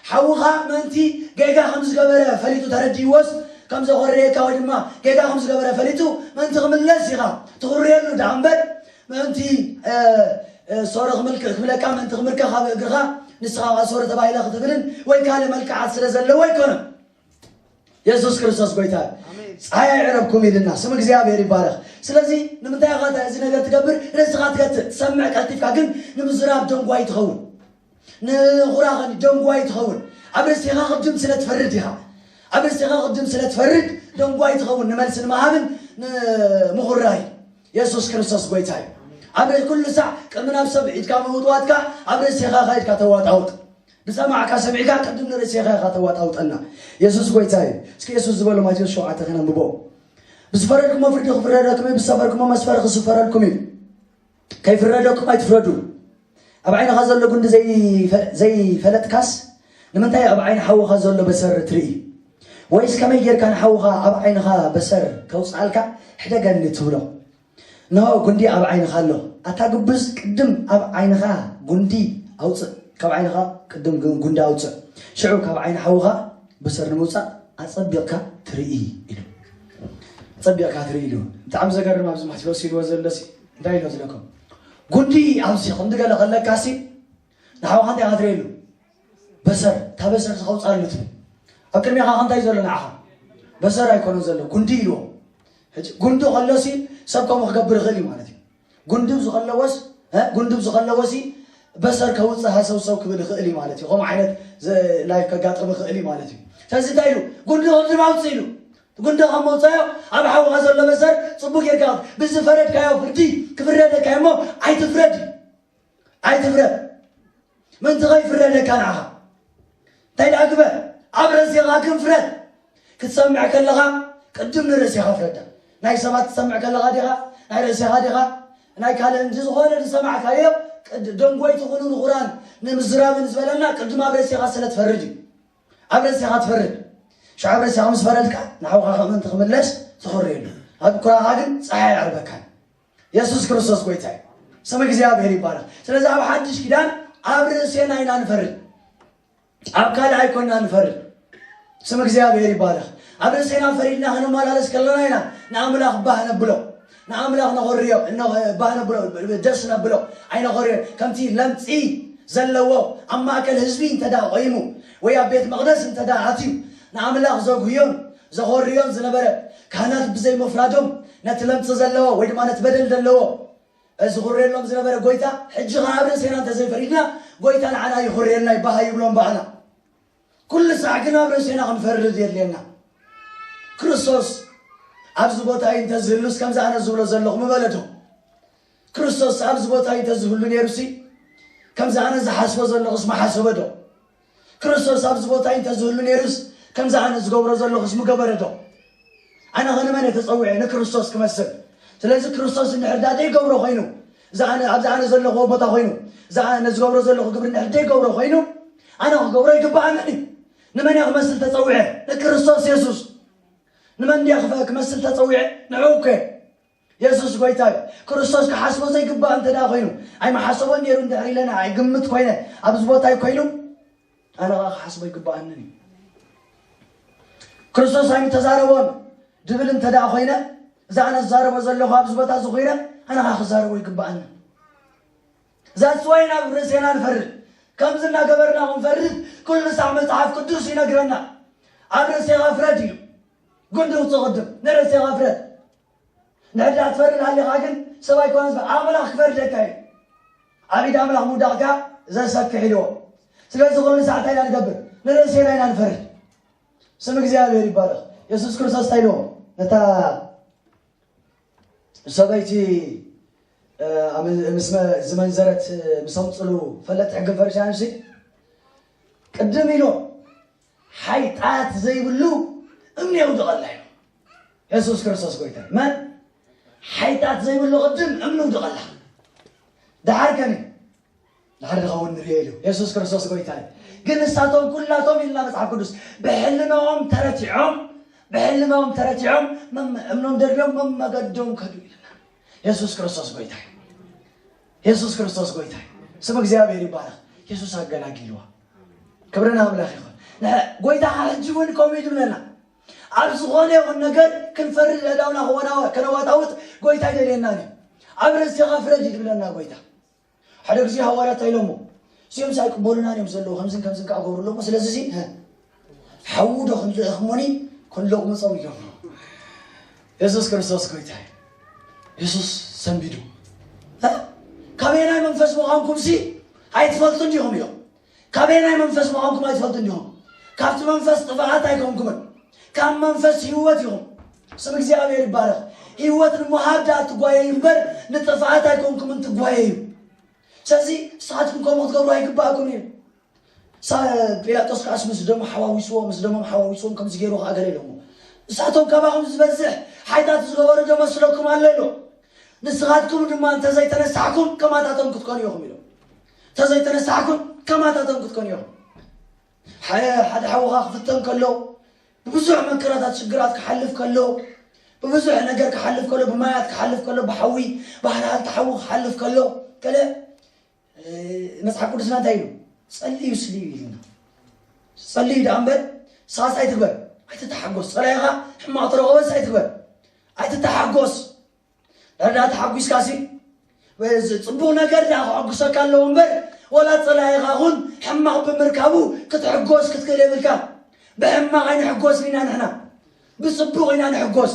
Speaker 1: ሓውኻ ምእንቲ ጌጋ ከም ዝገበረ ፈሊጡ ተረዲእዎስ ከም ዘኾርየካ ወይ ድማ ጌጋ ከም ዝገበረ ፈሊጡ ምእንቲ ክምለስ ኢኻ ትኹርየሉ ድኣ እምበር ምእንቲ ሶሪ ክምልክ ክብለካ ምእንቲ ክምርከኽ ኣብ እግርኻ ንስኻ ኸኣ ሶሪ ተባሂለ ክትብልን ወይ ካልእ መልክዓት ስለ ዘለዎ ኣይኮነን የሱስ ክርስቶስ ጎይታ እዩ ፀሓይ ኣይዕረብኩም ኢልና ስም እግዚኣብሔር ይባረኽ ስለዚ ንምንታይ ኻ እዚ ነገር ትገብር ርእስኻ ትገትእ ትሰምዕ ቀልጢፍካ ግን ንምዝራብ ደንጓይ ትኸውን ንኹራ ኸኒ ደንጓይ ትኸውን ኣብ ርእሴኻ ቅድም ስለ ትፈርድ ኢኻ ኣብ ርእሴኻ ቅድም ስለ ትፈርድ ደንጓይ ትኸውን ንመልሲ ንምሃብን ንምኹራይ የሱስ ክርስቶስ ጎይታ እዩ ኣብ ርእሲ ኩሉ ሳዕ ቅድሚ ናብ ሰብ ኢድካ ምውጥዋጥካ ኣብ ርእሴኻ ኸ ኢድካ ተዋጣውጥ ብሰማዕካ ሰሚዕካ ቅድም ንርእሴኻ ኢኻ ተዋጣውጠና የሱስ ጎይታ እዩ እስኪ የሱስ ዝበሎ ማቴዎስ ሸውዓተ ኸነንብቦ ብዝፈረድኩሞ ፍርዲ ክፍረደኩም እዩ ብዝሰፈርኩሞ መስፈሪ ክስፈረልኩም እዩ ከይፍረደኩም ኣይትፍረዱ ኣብ ዓይንኻ ዘሎ ጉንዲ ዘይፈለጥካስ ንምንታይ ኣብ ዓይኒ ሓውኻ ዘሎ በሰር ትርኢ ወይስ ከመይ ጌርካ ንሓውኻ ኣብ ዓይንኻ በሰር ከውፅኣልካ ሕደገኒ ትብሎ ንሆ ጉንዲ ኣብ ዓይንኻ ኣሎ ኣታ ግብዝ ቅድም ኣብ ዓይንኻ ጉንዲ ኣውፅእ ካብ ዓይንኻ ቅድም ጉንዲ ኣውፅእ ሽዑ ካብ ዓይኒ ሓውኻ በሰር ንምውፃእ ኣፀቢቕካ ትርኢ ኢሉ ኣፀቢቕካ ትርኢ ኢሉ ብጣዕሚ ዘገርም ኣብዚ ማቴዎስ ኢልዎ ዘሎሲ እንታይ ይመስለኩም ጉዲ ኣብዚ ከምዚ ገለ ከለካሲ ንሓውካ እንታይ ካትሪየሉ በሰር እታ በሰር ዝኸውፃሉ ትብል ኣብ ቅድሚኻ ከምታይ ዘሎ ንዓኻ በሰር ኣይኮነ ዘሎ ጉንዲ ኢልዎ ሕጂ ጉንዲ ከሎሲ ሰብ ከምኡ ክገብር ይኽእል እዩ ማለት እዩ ጉንድብ ዝኸለወስ ጉንድብ ዝኸለወሲ በሰር ከውፅእ ሃሰውሰው ክብል ይኽእል እዩ ማለት እዩ ከምኡ ዓይነት ላይፍ ከጋጥም ይኽእል እዩ ማለት እዩ ስለዚ እንታይ ኢሉ ጉንዲ ከምዚ ማውፅእ ኢሉ ጉንደ ካብ መውጻዮ ኣብ ሓውኻ ዘሎ መሰር ጽቡቅ ጌርካ ብዝፈረድካዮ ፍርዲ ክፍረደካ እዩሞ ኣይትፍረድ ኣይትፍረድ ምንቲ ከይፍረደካ ንዓኻ እንታይ ደኣ ግበር ኣብ ረሴኻ ግን ፍረድ ክትሰምዕ ከለኻ ቅድም ንርእሴኻ ፍረዳ ናይ ሰባት ትሰምዕ ከለኻ ዲኻ ናይ ርእሴኻ ዲኻ ናይ ካልእ እንጂ ዝኾነ ዝሰማዕካዮ ደንጎይ ትኹኑ ንኹራን ንምዝራብን ዝበለና ቅድም ኣብ ርእሴኻ ስለ ትፈርድ እዩ ኣብ ርእሴኻ ትፈርድ ሽዑ ኣብ ርእሴኻ ምስ ፈረድካ ንሓውካ ከም ምእንቲ ክምለስ ትኽሪ የሉ ኣብ ኩራኻ ግን ፀሓይ ኣይዓርበካን የሱስ ክርስቶስ ጎይታ እዩ ስም እግዚኣብሔር ይባላል ስለዚ ኣብ ሓድሽ ኪዳን ኣብ ርእሴና ኢና ንፈርድ ኣብ ካልእ ኣይኮና ንፈርድ ስም እግዚኣብሔር ይባላል ኣብ ርእሴና ፈሪድና ክንመላለስ ከለና ኢና ንኣምላኽ ባህ ነብሎ ንኣምላኽ ነኾርዮ፣ እነሆ ባህ ነብሎ፣ ደስ ነብሎ፣ ኣይነኾርዮን። ከምቲ ለምጺ ዘለዎ ኣብ ማእከል ህዝቢ እንተድኣ ቆይሙ ወይ ኣብ ቤት መቕደስ እንተድኣ ኣትዩ ንኣምላኽ ዘጉህዮን ዘኾርዮን ዝነበረ፣ ካህናት ብዘይ ምፍራዶም ነቲ ለምጺ ዘለዎ ወይ ድማ ነቲ በደል ዘለዎ ዝኹርየሎም ዝነበረ ጎይታ ሕጂ ከኣ ኣብ ርእሴና እንተዘይፈሪድና ጎይታ ንዓና ይኹርየልና እዩ ባህ ይብሎ እምበኣና ኩሉ ሳዕ ግን ኣብ ርእሴና ክንፈርድ የድልየና። ክርስቶስ ኣብዚ ቦታ እዩ እንተ ዝህሉስ ከምዚ ኣነ ዝብሎ ዘለኹ ምበለዶ? ክርስቶስ ኣብዚ ቦታ እዩ እንተ ዝህሉ ነይሩሲ ከምዚ ኣነ ዝሓስቦ ዘለኹስ ምሓሰበዶ? ክርስቶስ ኣብዚ ቦታ እዩ እንተ ዝህሉ ነይሩስ ከምዚ ኣነ ዝገብሮ ዘለኹስ ምገበረዶ? ኣነ ኸ ንመን እየ ተጸዊዐ? ንክርስቶስ ክመስል። ስለዚ ክርስቶስ እንድሕር ዳኣ ዘይገብሮ ኮይኑ እዚ ኣነ ኣብዚ ኣነ ዘለኹዎ ቦታ ኮይኑ እዚ ኣነ ዝገብሮ ዘለኹ ግብሪ እንድሕር ዘይገብሮ ኮይኑ ኣነ ክገብሮ ኣይግብኣንን እዩ። ንመን እየ ክመስል ተጸዊዐ? ንክርስቶስ የሱስ። ንመን እንድየ ክፈ ክመስል ተጸዊዐ? ንዕኡ እኮ እየ። የሱስ ጎይታ እዩ። ክርስቶስ ክሓስቦ ዘይግባእ እንተ ኮይኑ ኣይምሓሰቦን ነይሩ እንድሕር ኢለ ንዓይ ግምት ኮይነ ኣብዚ ቦታይ ኮይኑ ኣነ ኸኣ ክሓስቦ ኣይግብኣንን እዩ። ክርስቶስ ኣይምተዛረቦን ድብል እንተ ደኣ ኾይነ እዛ ኣነ ዝዛረቦ ዘለኹ ኣብዚ ቦታ እዚ ኮይነ ኣነ ኸኣ ክዛረቦ ይግብኣንን ዛስ ዋይ ናብ ርእሴና ንፈርድ ከምዚ እናገበርና ክንፈርድ ኩሉ ሳዕ መፅሓፍ ቅዱስ ይነግረና ኣብ ርእሴኻ ፍረድ እዩ ጉንዲ ውፅእ ቅድም ንርእሴኻ ፍረድ ነዳ ትፈርድ ኣሊኻ ግን ሰብ ኣይኮነን ዝፈ ኣምላኽ ክፈርደካ እዩ ኣብ ኢድ ኣምላኽ ምውዳቕ ከኣ ዘሰክሕ ኢልዎ ስለዚ ኩሉ ሰዓት እንታይ ኢና ንገብር ንርእሴና ኢና ንፈርድ ስም እግዚኣብሔር ይባረኽ የሱስ ክርስቶስ እንታይ ኢልዎ ነታ ሰበይቲ ምስ ዝመንዘረት ምሰምፅሉ ፈለጥ ሕግን ፈሪሳውያን ቅድም ኢሎም ሓይጣት ዘይብሉ እምኒ የውድቐላ ኢሉ የሱስ ክርስቶስ ጎይታ እዩ። መን ሓይጣት ዘይብሉ ቅድም እምኒ ውድቐላ ድሓር ከኒ ድሓር ዝኸውን ንሪኦ ኢሉ የሱስ ክርስቶስ ጎይታ እዩ። ግን ንሳቶም ኩላቶም ኢልና መጽሓፍ ቅዱስ ብሕልናኦም ተረቲዖም ብሕልናኦም ተረቲዖም መም- እምኖም ደርዶም መመገዶም ከዱ ኢልና የሱስ ክርስቶስ ጎይታ እዩ። የሱስ ክርስቶስ ጎይታ እዩ ስም እግዚኣብሔር ይባረክ የሱስ ኣገላጊልዋ ክብሪ ንኣምላኽ ይኹን ንሕና ጎይታ ኸ ሕጂ እውን ከምኡ እዩ ዝብለና ኣብ ዝኾነ ይኹን ነገር ክንፈርድ ኣእዳውና ክወናወ ከነዋጣውጥ ጎይታ ይደልየናን እዩ ኣብ ርእስኻ ፍረድ እዩ ዝብለና ጎይታ ሓደ ግዜ ሃዋርያት እንታይ ኢሎሞ እዚኦም ኣይቅበሉናን እዮም ዘለዉ ከምዝን ከምዝን ከዓ ገብሩ ኣለሞ ስለዚ እዚ ሓዉ ዶ ክንልእኽሙኒ ክንልቕ ምጾም ይገብሩ የሱስ ክርስቶስ ጎይታ እዩ የሱስ ሰንቢዱ ካበይ ናይ መንፈስ ምዃንኩም ሲ ኣይትፈልጡን ዲኹም ኢሎም ካበይ ናይ መንፈስ ምዃንኩም ኣይትፈልጡን ዲኹም ካብቲ መንፈስ ጥፋኣት ኣይኮንኩምን ካብ መንፈስ ህይወት ኢኹም ስም እግዚኣብሔር ይባረኽ ህይወት ንምሃብ ድኣ ትጓየዩ እምበር ንጥፍኣት ኣይኮንኩምን ትጓየዩ ስለዚ ንስኻትኩም ከምኡ ክትገብሩ ኣይግባእኩም እዩ ጲላጦስ ከኣስ ምስ ደሙ ሓዋዊስዎ ምስ ደሞም ሓዋዊስዎም ከምዚ ገይሩ ከኣ ገለ ኢሎሞ ንሳቶም ካባኹም ዝበዝሕ ሓይታት ዝገበሩ ዶ መስለኩም ኣሎ ኢሎም ንስኻትኩም ድማ እንተ ዘይተነሳሕኩም ከማታቶም ክትኮኑ ኢኹም ኢሎም እንተ ዘይተነሳሕኩም ከማታቶም ክትኮኑ ኢኹም ሓደ ሓውኻ ክፍተን ከሎ ብብዙሕ መከራታት ሽግራት ክሓልፍ ከሎ ብብዙሕ ነገር ክሓልፍ ከሎ ብማያት ክሓልፍ ከሎ ብሓዊ ባህርሃል ተሓዊ ክሓልፍ ከሎ ገለ መጽሓፍ ቅዱስና እንታይ ኢሉ ጸልዩ ስልዩ ኢልና ጸልዩ ደኣ እምበር ሳስ ኣይትግበር ኣይትተሓጎስ ጸላኢኻ ሕማቕ ተረኸበስ ኣይትግበር ኣይትተሓጎስ ዳዳ ተሓጒስካ ሲ ፅቡቅ ነገር ዳ ክዕጉሰካ ኣለዎ እምበር ወላ ፀላኢኻ ኹን ሕማቕ ብምርካቡ ክትሕጎስ ክትክእል የብልካ ብሕማቕ ኣይንሕጎስን ኢና ንሕና ብጽቡቕ ኢና ንሕጎስ።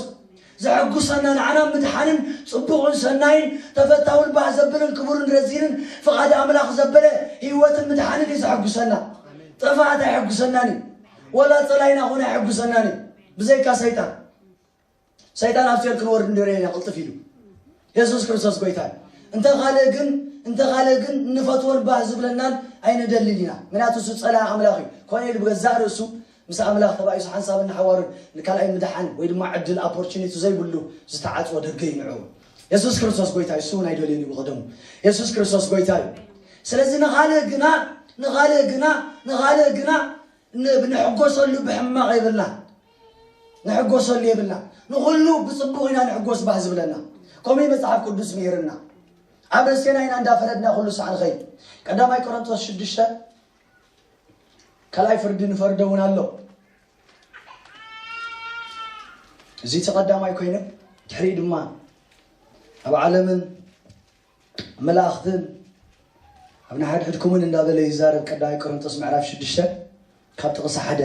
Speaker 1: ዘሕጉሰና ንዓና ምድሓንን ጽቡቕን ሰናይን ተፈታውን ባህ ዘብልን ክቡርን ረዚንን ፍቓድ ኣምላኽ ዘበለ ህይወትን ምድሓንን እዩ ዘሕጉሰና። ጥፍኣት ኣይሕጉሰናን እዩ። ወላ ጸላይና ኹን ኣይሕጉሰናን እዩ። ብዘይካ ሰይጣን። ሰይጣን ኣብ ሲኦል ክንወርድ እንድርየና ቅልጥፍ ኢሉ። የሱስ ክርስቶስ ጎይታ እዩ። እንተ ካልእ ግን እንተ ካልእ ግን እንፈትዎን ባህ ዝብለናን ኣይንደልን ኢና። ምክንያቱ እሱ ጸላኢ ኣምላኽ እዩ። ኮነ ኢሉ ብገዛእ ርእሱ ምስ ኣምላኽ ተባኢሱ ሓንሳብን ንሓዋሩን ንካልኣይ ምድሓን ወይ ድማ ዕድል ኣፖርቹኒቲ ዘይብሉ ዝተዓጽወ ደገ እዩ ንዕኡ። የሱስ ክርስቶስ ጎይታ እዩ። እሱ እውን ኣይደልዮን እዩ ብቐደሙ። የሱስ ክርስቶስ ጎይታ እዩ። ስለዚ ንኻልእ ግና ንኻልእ ግና ንኻልእ ግና ን- ንሕጎሰሉ ብሕማቕ የብልና ንሕጎሰሉ የብልናን። ንኹሉ ብጽቡቕ ኢና ንሕጎስ ባህ ዝብለና። ከምኡ እዩ መጽሓፍ ቅዱስ ምሂርና። ኣብ ርእሴና ኢና እንዳፈረድና ኩሉ ሳዕ ንኸይድ። ቀዳማይ ቆሮንቶስ ሽዱሽተ ካልኣይ ፍርዲ ንፈርዶ እውን ኣሎ። እዚ እቲ ቀዳማይ ኮይኑ ድሕሪኡ ድማ ኣብ ዓለምን መላእኽትን ኣብ ንሓድሕድኩምን እንዳበለ ይዛረብ ቀዳማይ ቆሮንቶስ ምዕራፍ ሽዱሽተ ካብ ጥቕሲ ሓደ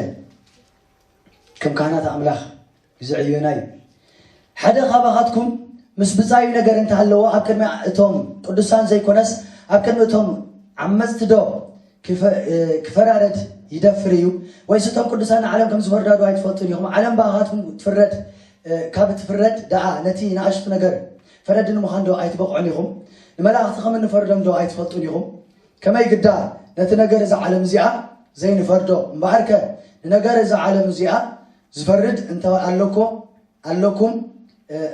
Speaker 1: ከም ካህናት ኣምላኽ ይዝዕዩና እዩ ሓደ ካባኻትኩም ምስ ብጻዩ ነገር እንተሃለዎ ኣብ ቅድሚ እቶም ቅዱሳን ዘይኮነስ ኣብ ቅድሚ እቶም ዓመፅቲ ዶ ክፈራረድ ይደፍር እዩ ወይስ እቶም ቅዱሳን ንዓለም ከም ዝፈርዳዶ ኣይትፈልጡን ኢኹም ዓለም ብኣኻትኩም ትፍረድ ካብ ትፍረድ ደኣ ነቲ ንኣሽቱ ነገር ፈረድቲ ንምዃን ዶ ኣይትበቕዑን ኢኹም? ንመላእኽቲ ከም እንፈርዶም ዶ ኣይትፈልጡን ኢኹም? ከመይ ግዳ ነቲ ነገር እዛ ዓለም እዚኣ ዘይንፈርዶ? እምበኣርከ ንነገር እዛ ዓለም እዚኣ ዝፈርድ እንተ ኣሎኮ ኣሎኩም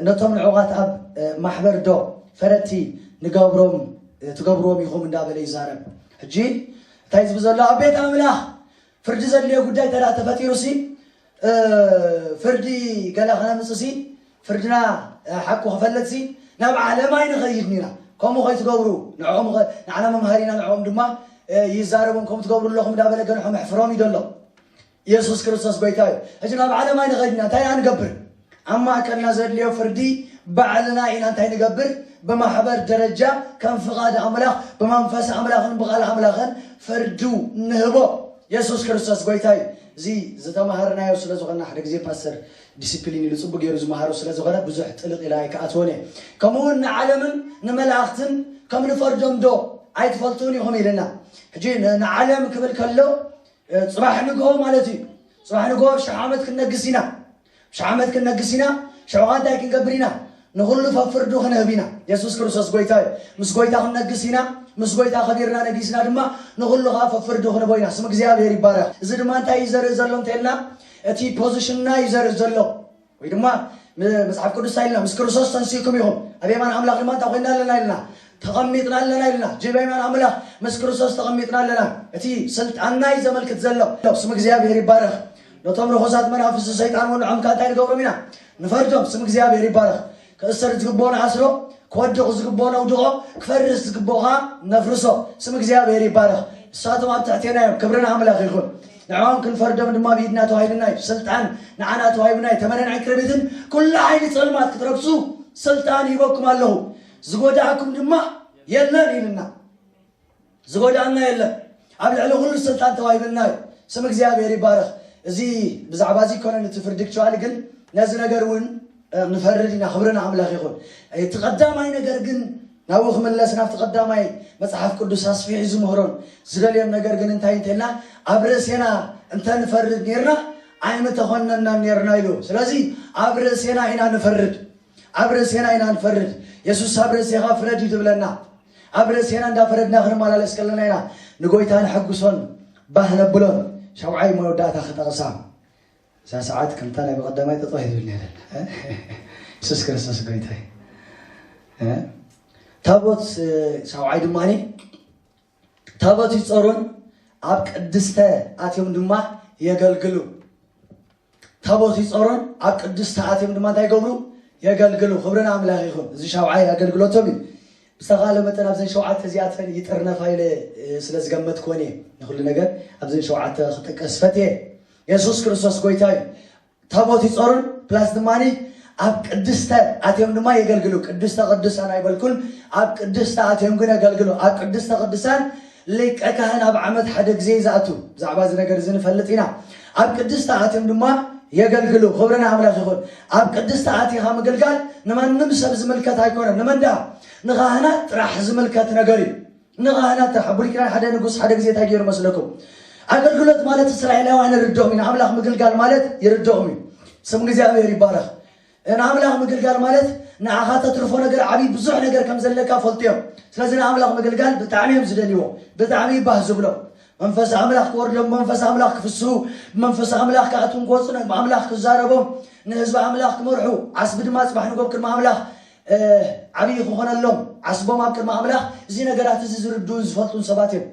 Speaker 1: ነቶም ንዕቓት ኣብ ማሕበር ዶ ፈረድቲ ንገብሮም ትገብርዎም ኢኹም እንዳበለ ይዛረብ። ሕጂ እንታይ ዝብል ዘሎ ኣብ ቤት ኣምላኽ ፍርዲ ዘድልዮ ጉዳይ እንተ ተፈጢሩሲ ፍርዲ ገለ ክነምፅሲ ፍርድና ሓቁ ክፈልጥሲ ናብ ዓለም ኣይንኸይድ ኒና ከምኡ ከይትገብሩ ንዕኦም ንዓና መምሃሪና ንዕኦም ድማ ይዛረቦም ከም ትገብሩ ኣለኹም እንዳበለ ገንሖም ኣሕፍሮም እዩ ዘሎ ኢየሱስ ክርስቶስ ጎይታ እዩ ሕጂ ናብ ዓለም ኣይንኸይድና እንታይ ንገብር ኣብ ማእከልና ዘድልዮ ፍርዲ ባዕልና ኢና እንታይ ንገብር ብማሕበር ደረጃ ከም ፍቃድ ኣምላኽ ብመንፈስ ኣምላኽን ብቃል ኣምላኽን ፍርዱ ንህቦ የሱስ ክርስቶስ ጎይታ እዩ እዚ ዝተማሃርናዮ ስለ ዝኾና ሓደ ግዜ ፓስተር ዲሲፕሊን ኢሉ ጽቡቅ ገይሩ ዝመሃሮ ስለ ዝኾነ ብዙሕ ጥልቅ ኢለ ኣይከኣትዎን እየ ከምኡ ውን ንዓለምን ንመላእኽትን ከም ንፈርዶም ዶ ኣይትፈልጡን ኢኹም ኢልና ሕጂ ንዓለም ክብል ከሎ ጽባሕ ንግሆ ማለት እዩ ጽባሕ ንግሆ ሽሕ ዓመት ክንነግስ ኢና ሽሕ ዓመት ክንነግስ ኢና፣ ሽዑ ኸኣ እንታይ ክንገብር ኢና? ንዅሉ ፈፍርዱ ክንህብ ኢና። የሱስ ክርስቶስ ጐይታ እዩ። ምስ ጐይታ ክንነግስ ኢና፣ ምስ ጐይታ ኸቢርና ነጊስና ድማ ንዅሉ ኸኣ ፈፍርዱ ክንህቦ ኢና። ስም እግዚኣብሄር ይባረኽ። እዚ ድማ እንታይ እዩ ዘርኢ ዘሎ እንተ ኢልና፣ እቲ ፖዚሽንና እዩ ዘርኢ ዘሎ። ወይ ድማ መጽሓፍ ቅዱስ እንታይ ኢልና፣ ምስ ክርስቶስ ተንሲእኩም ኢኹም፣ ኣብ የማን ኣምላኽ ድማ እንታይ ኰይንና ኣለና ኢልና፣ ተቐሚጥና ኣለና ኢልና። ጅብ የማን ኣምላኽ ምስ ክርስቶስ ተቐሚጥና ኣለና። እቲ ስልጣንና እዩ ዘመልክት ዘሎ። ስም እግዚኣብሄር ይባረኽ። ነቶም ርኹሳት መናፍስቲ ሰይጣን እውን ንዖምካ እንታይ ንገብሮም ኢና? ንፈርዶም። ስም እግዚኣብሔር ይባረኽ። ክእሰር ዝግብኦ ንኣስሮ፣ ክወድቕ ዝግብኦ ነውድቖ፣ ክፈርስ ዝግብኦ ኸዓ ነፍርሶ። ስም እግዚኣብሔር ይባረኽ። ንሳቶም ኣብ ትሕቴና እዮም። ክብሪ ንኣምላኽ ይኹን። ንዕኦም ክንፈርዶም ድማ ብኢድና ተዋሂብና እዩ። ስልጣን ንዓና ተዋሂብና እዩ። ተመንን ዕንቅርቢትን ኩሉ ሓይሊ ጸልማት ክትረግጹ ስልጣን ሂበኩም ኣለኹ፣ ዝጎድኣኩም ድማ የለን ኢልና። ዝጎዳኣና የለን ኣብ ልዕሊ ኩሉ ስልጣን ተዋሂብና እዩ ስም እግዚኣብሔር ይባረክ እዚ ብዛዕባ እዚ ኮነን እቲ ፍርዲ ክቸዋሊ ግን ነዚ ነገር እውን ንፈርድ ኢና ክብሪ ንኣምላኽ ይኹን እቲ ቀዳማይ ነገር ግን ናብኡ ክምለስ ናብቲ ቀዳማይ መፅሓፍ ቅዱስ ኣስፊሑ ዝምህሮን ዝደልዮን ነገር ግን እንታይ እንተልና ኣብ ርእሴና እንተንፈርድ ኔርና ኣይምተኾነናን ኔርና ኢሉ ስለዚ ኣብ ርእሴና ኢና ንፈርድ ኣብ ርእሴና ኢና ንፈርድ የሱስ ኣብ ርእሴኻ ፍረድ እዩ ትብለና ኣብ ርእሴና እንዳፈረድና ክንመላለስ ከለና ኢና ንጎይታ ነሐጉሶን ባህ ነብሎን። ሻውዓይ መወዳእታ ክጠቕሳ እዛ ሰዓት ከምታ ናይ ብቐዳማይ ጠጠው ይብል ነይረን የሱስ ክርስቶስ ጎይታይ ታቦት ሻውዓይ ድማ ታቦት ይፀሩን ኣብ ቅድስተ ኣትዮም ድማ የገልግሉ ታቦት ይጾሩን ኣብ ቅድስቲ ኣትዮም ድማ እንታይ ይገብሩ የገልግሉ ክብሪ ንኣምላኽ ይኹን እዚ ሻውዓይ ኣገልግሎቶም እዩ ብዝተኻለ መጠን ኣብዘን ሸውዓተ እዚኣተን ይጥርነፋ ኢለ ስለ ዝገመትክወን እየ ንኩሉ ነገር ኣብዘን ሸውዓተ ክጠቀስ ፈትየ የሱስ ክርስቶስ ጎይታ እዩ ታቦት ይጾሩን ፕላስ ድማኒ ኣብ ቅድስተ ኣትዮም ድማ የገልግሉ ቅድስተ ቅዱሳን ኣይበልኩን ኣብ ቅድስተ ኣትዮም ግን የገልግሉ ኣብ ቅድስተ ቅዱሳን ሊቀ ካህን ኣብ ዓመት ሓደ ግዜ ዝኣቱ ብዛዕባ እዚ ነገር እዚ ንፈልጥ ኢና ኣብ ቅድስቲ ኣትዮም ድማ የገልግሉ ክብሪ ንኣምላኽ ይኹን ኣብ ቅድስቲ ኣቲኻ ምግልጋል ንማንም ሰብ ዝምልከት ኣይኮነን ንመን ደኣ ንኻህናት ጥራሕ ዝምልከት ነገር እዩ ንኻህናት ጥራሕ ብሉይ ኪዳን ሓደ ንጉስ ሓደ ግዜ እንታይ ገይሩ መስለኩም ኣገልግሎት ማለት እስራኤላውያን ይርድኦም ኢና ኣምላኽ ምግልጋል ማለት ይርድኦም እዩ ስም እግዚኣብሔር ይባረኽ ንኣምላኽ ምግልጋል ማለት ንዓኻ ተትርፎ ነገር ዓቢ ብዙሕ ነገር ከም ዘለካ ፈልጡ እዮም ስለዚ ንኣምላኽ ምግልጋል ብጣዕሚ እዮም ዝደልይዎ ብጣዕሚ እዩ ባህ ዝብሎም መንፈስ ኣምላኽ ክወርዶም ብመንፈስ ኣምላኽ ክፍስሁ ብመንፈስ ኣምላኽ ክኣትዉን ክወጹን ኣምላኽ ክዛረቦም ንህዝቢ ኣምላኽ ክመርሑ ዓስቢ ድማ ጽባሕ ንጎ ኣብ ቅድሚ ኣምላኽ ዓብዪ ክኾነሎም ዓስቦም ኣብ ቅድሚ ኣምላኽ እዚ ነገራት እዚ ዝርድኡን ዝፈልጡን ሰባት እዮም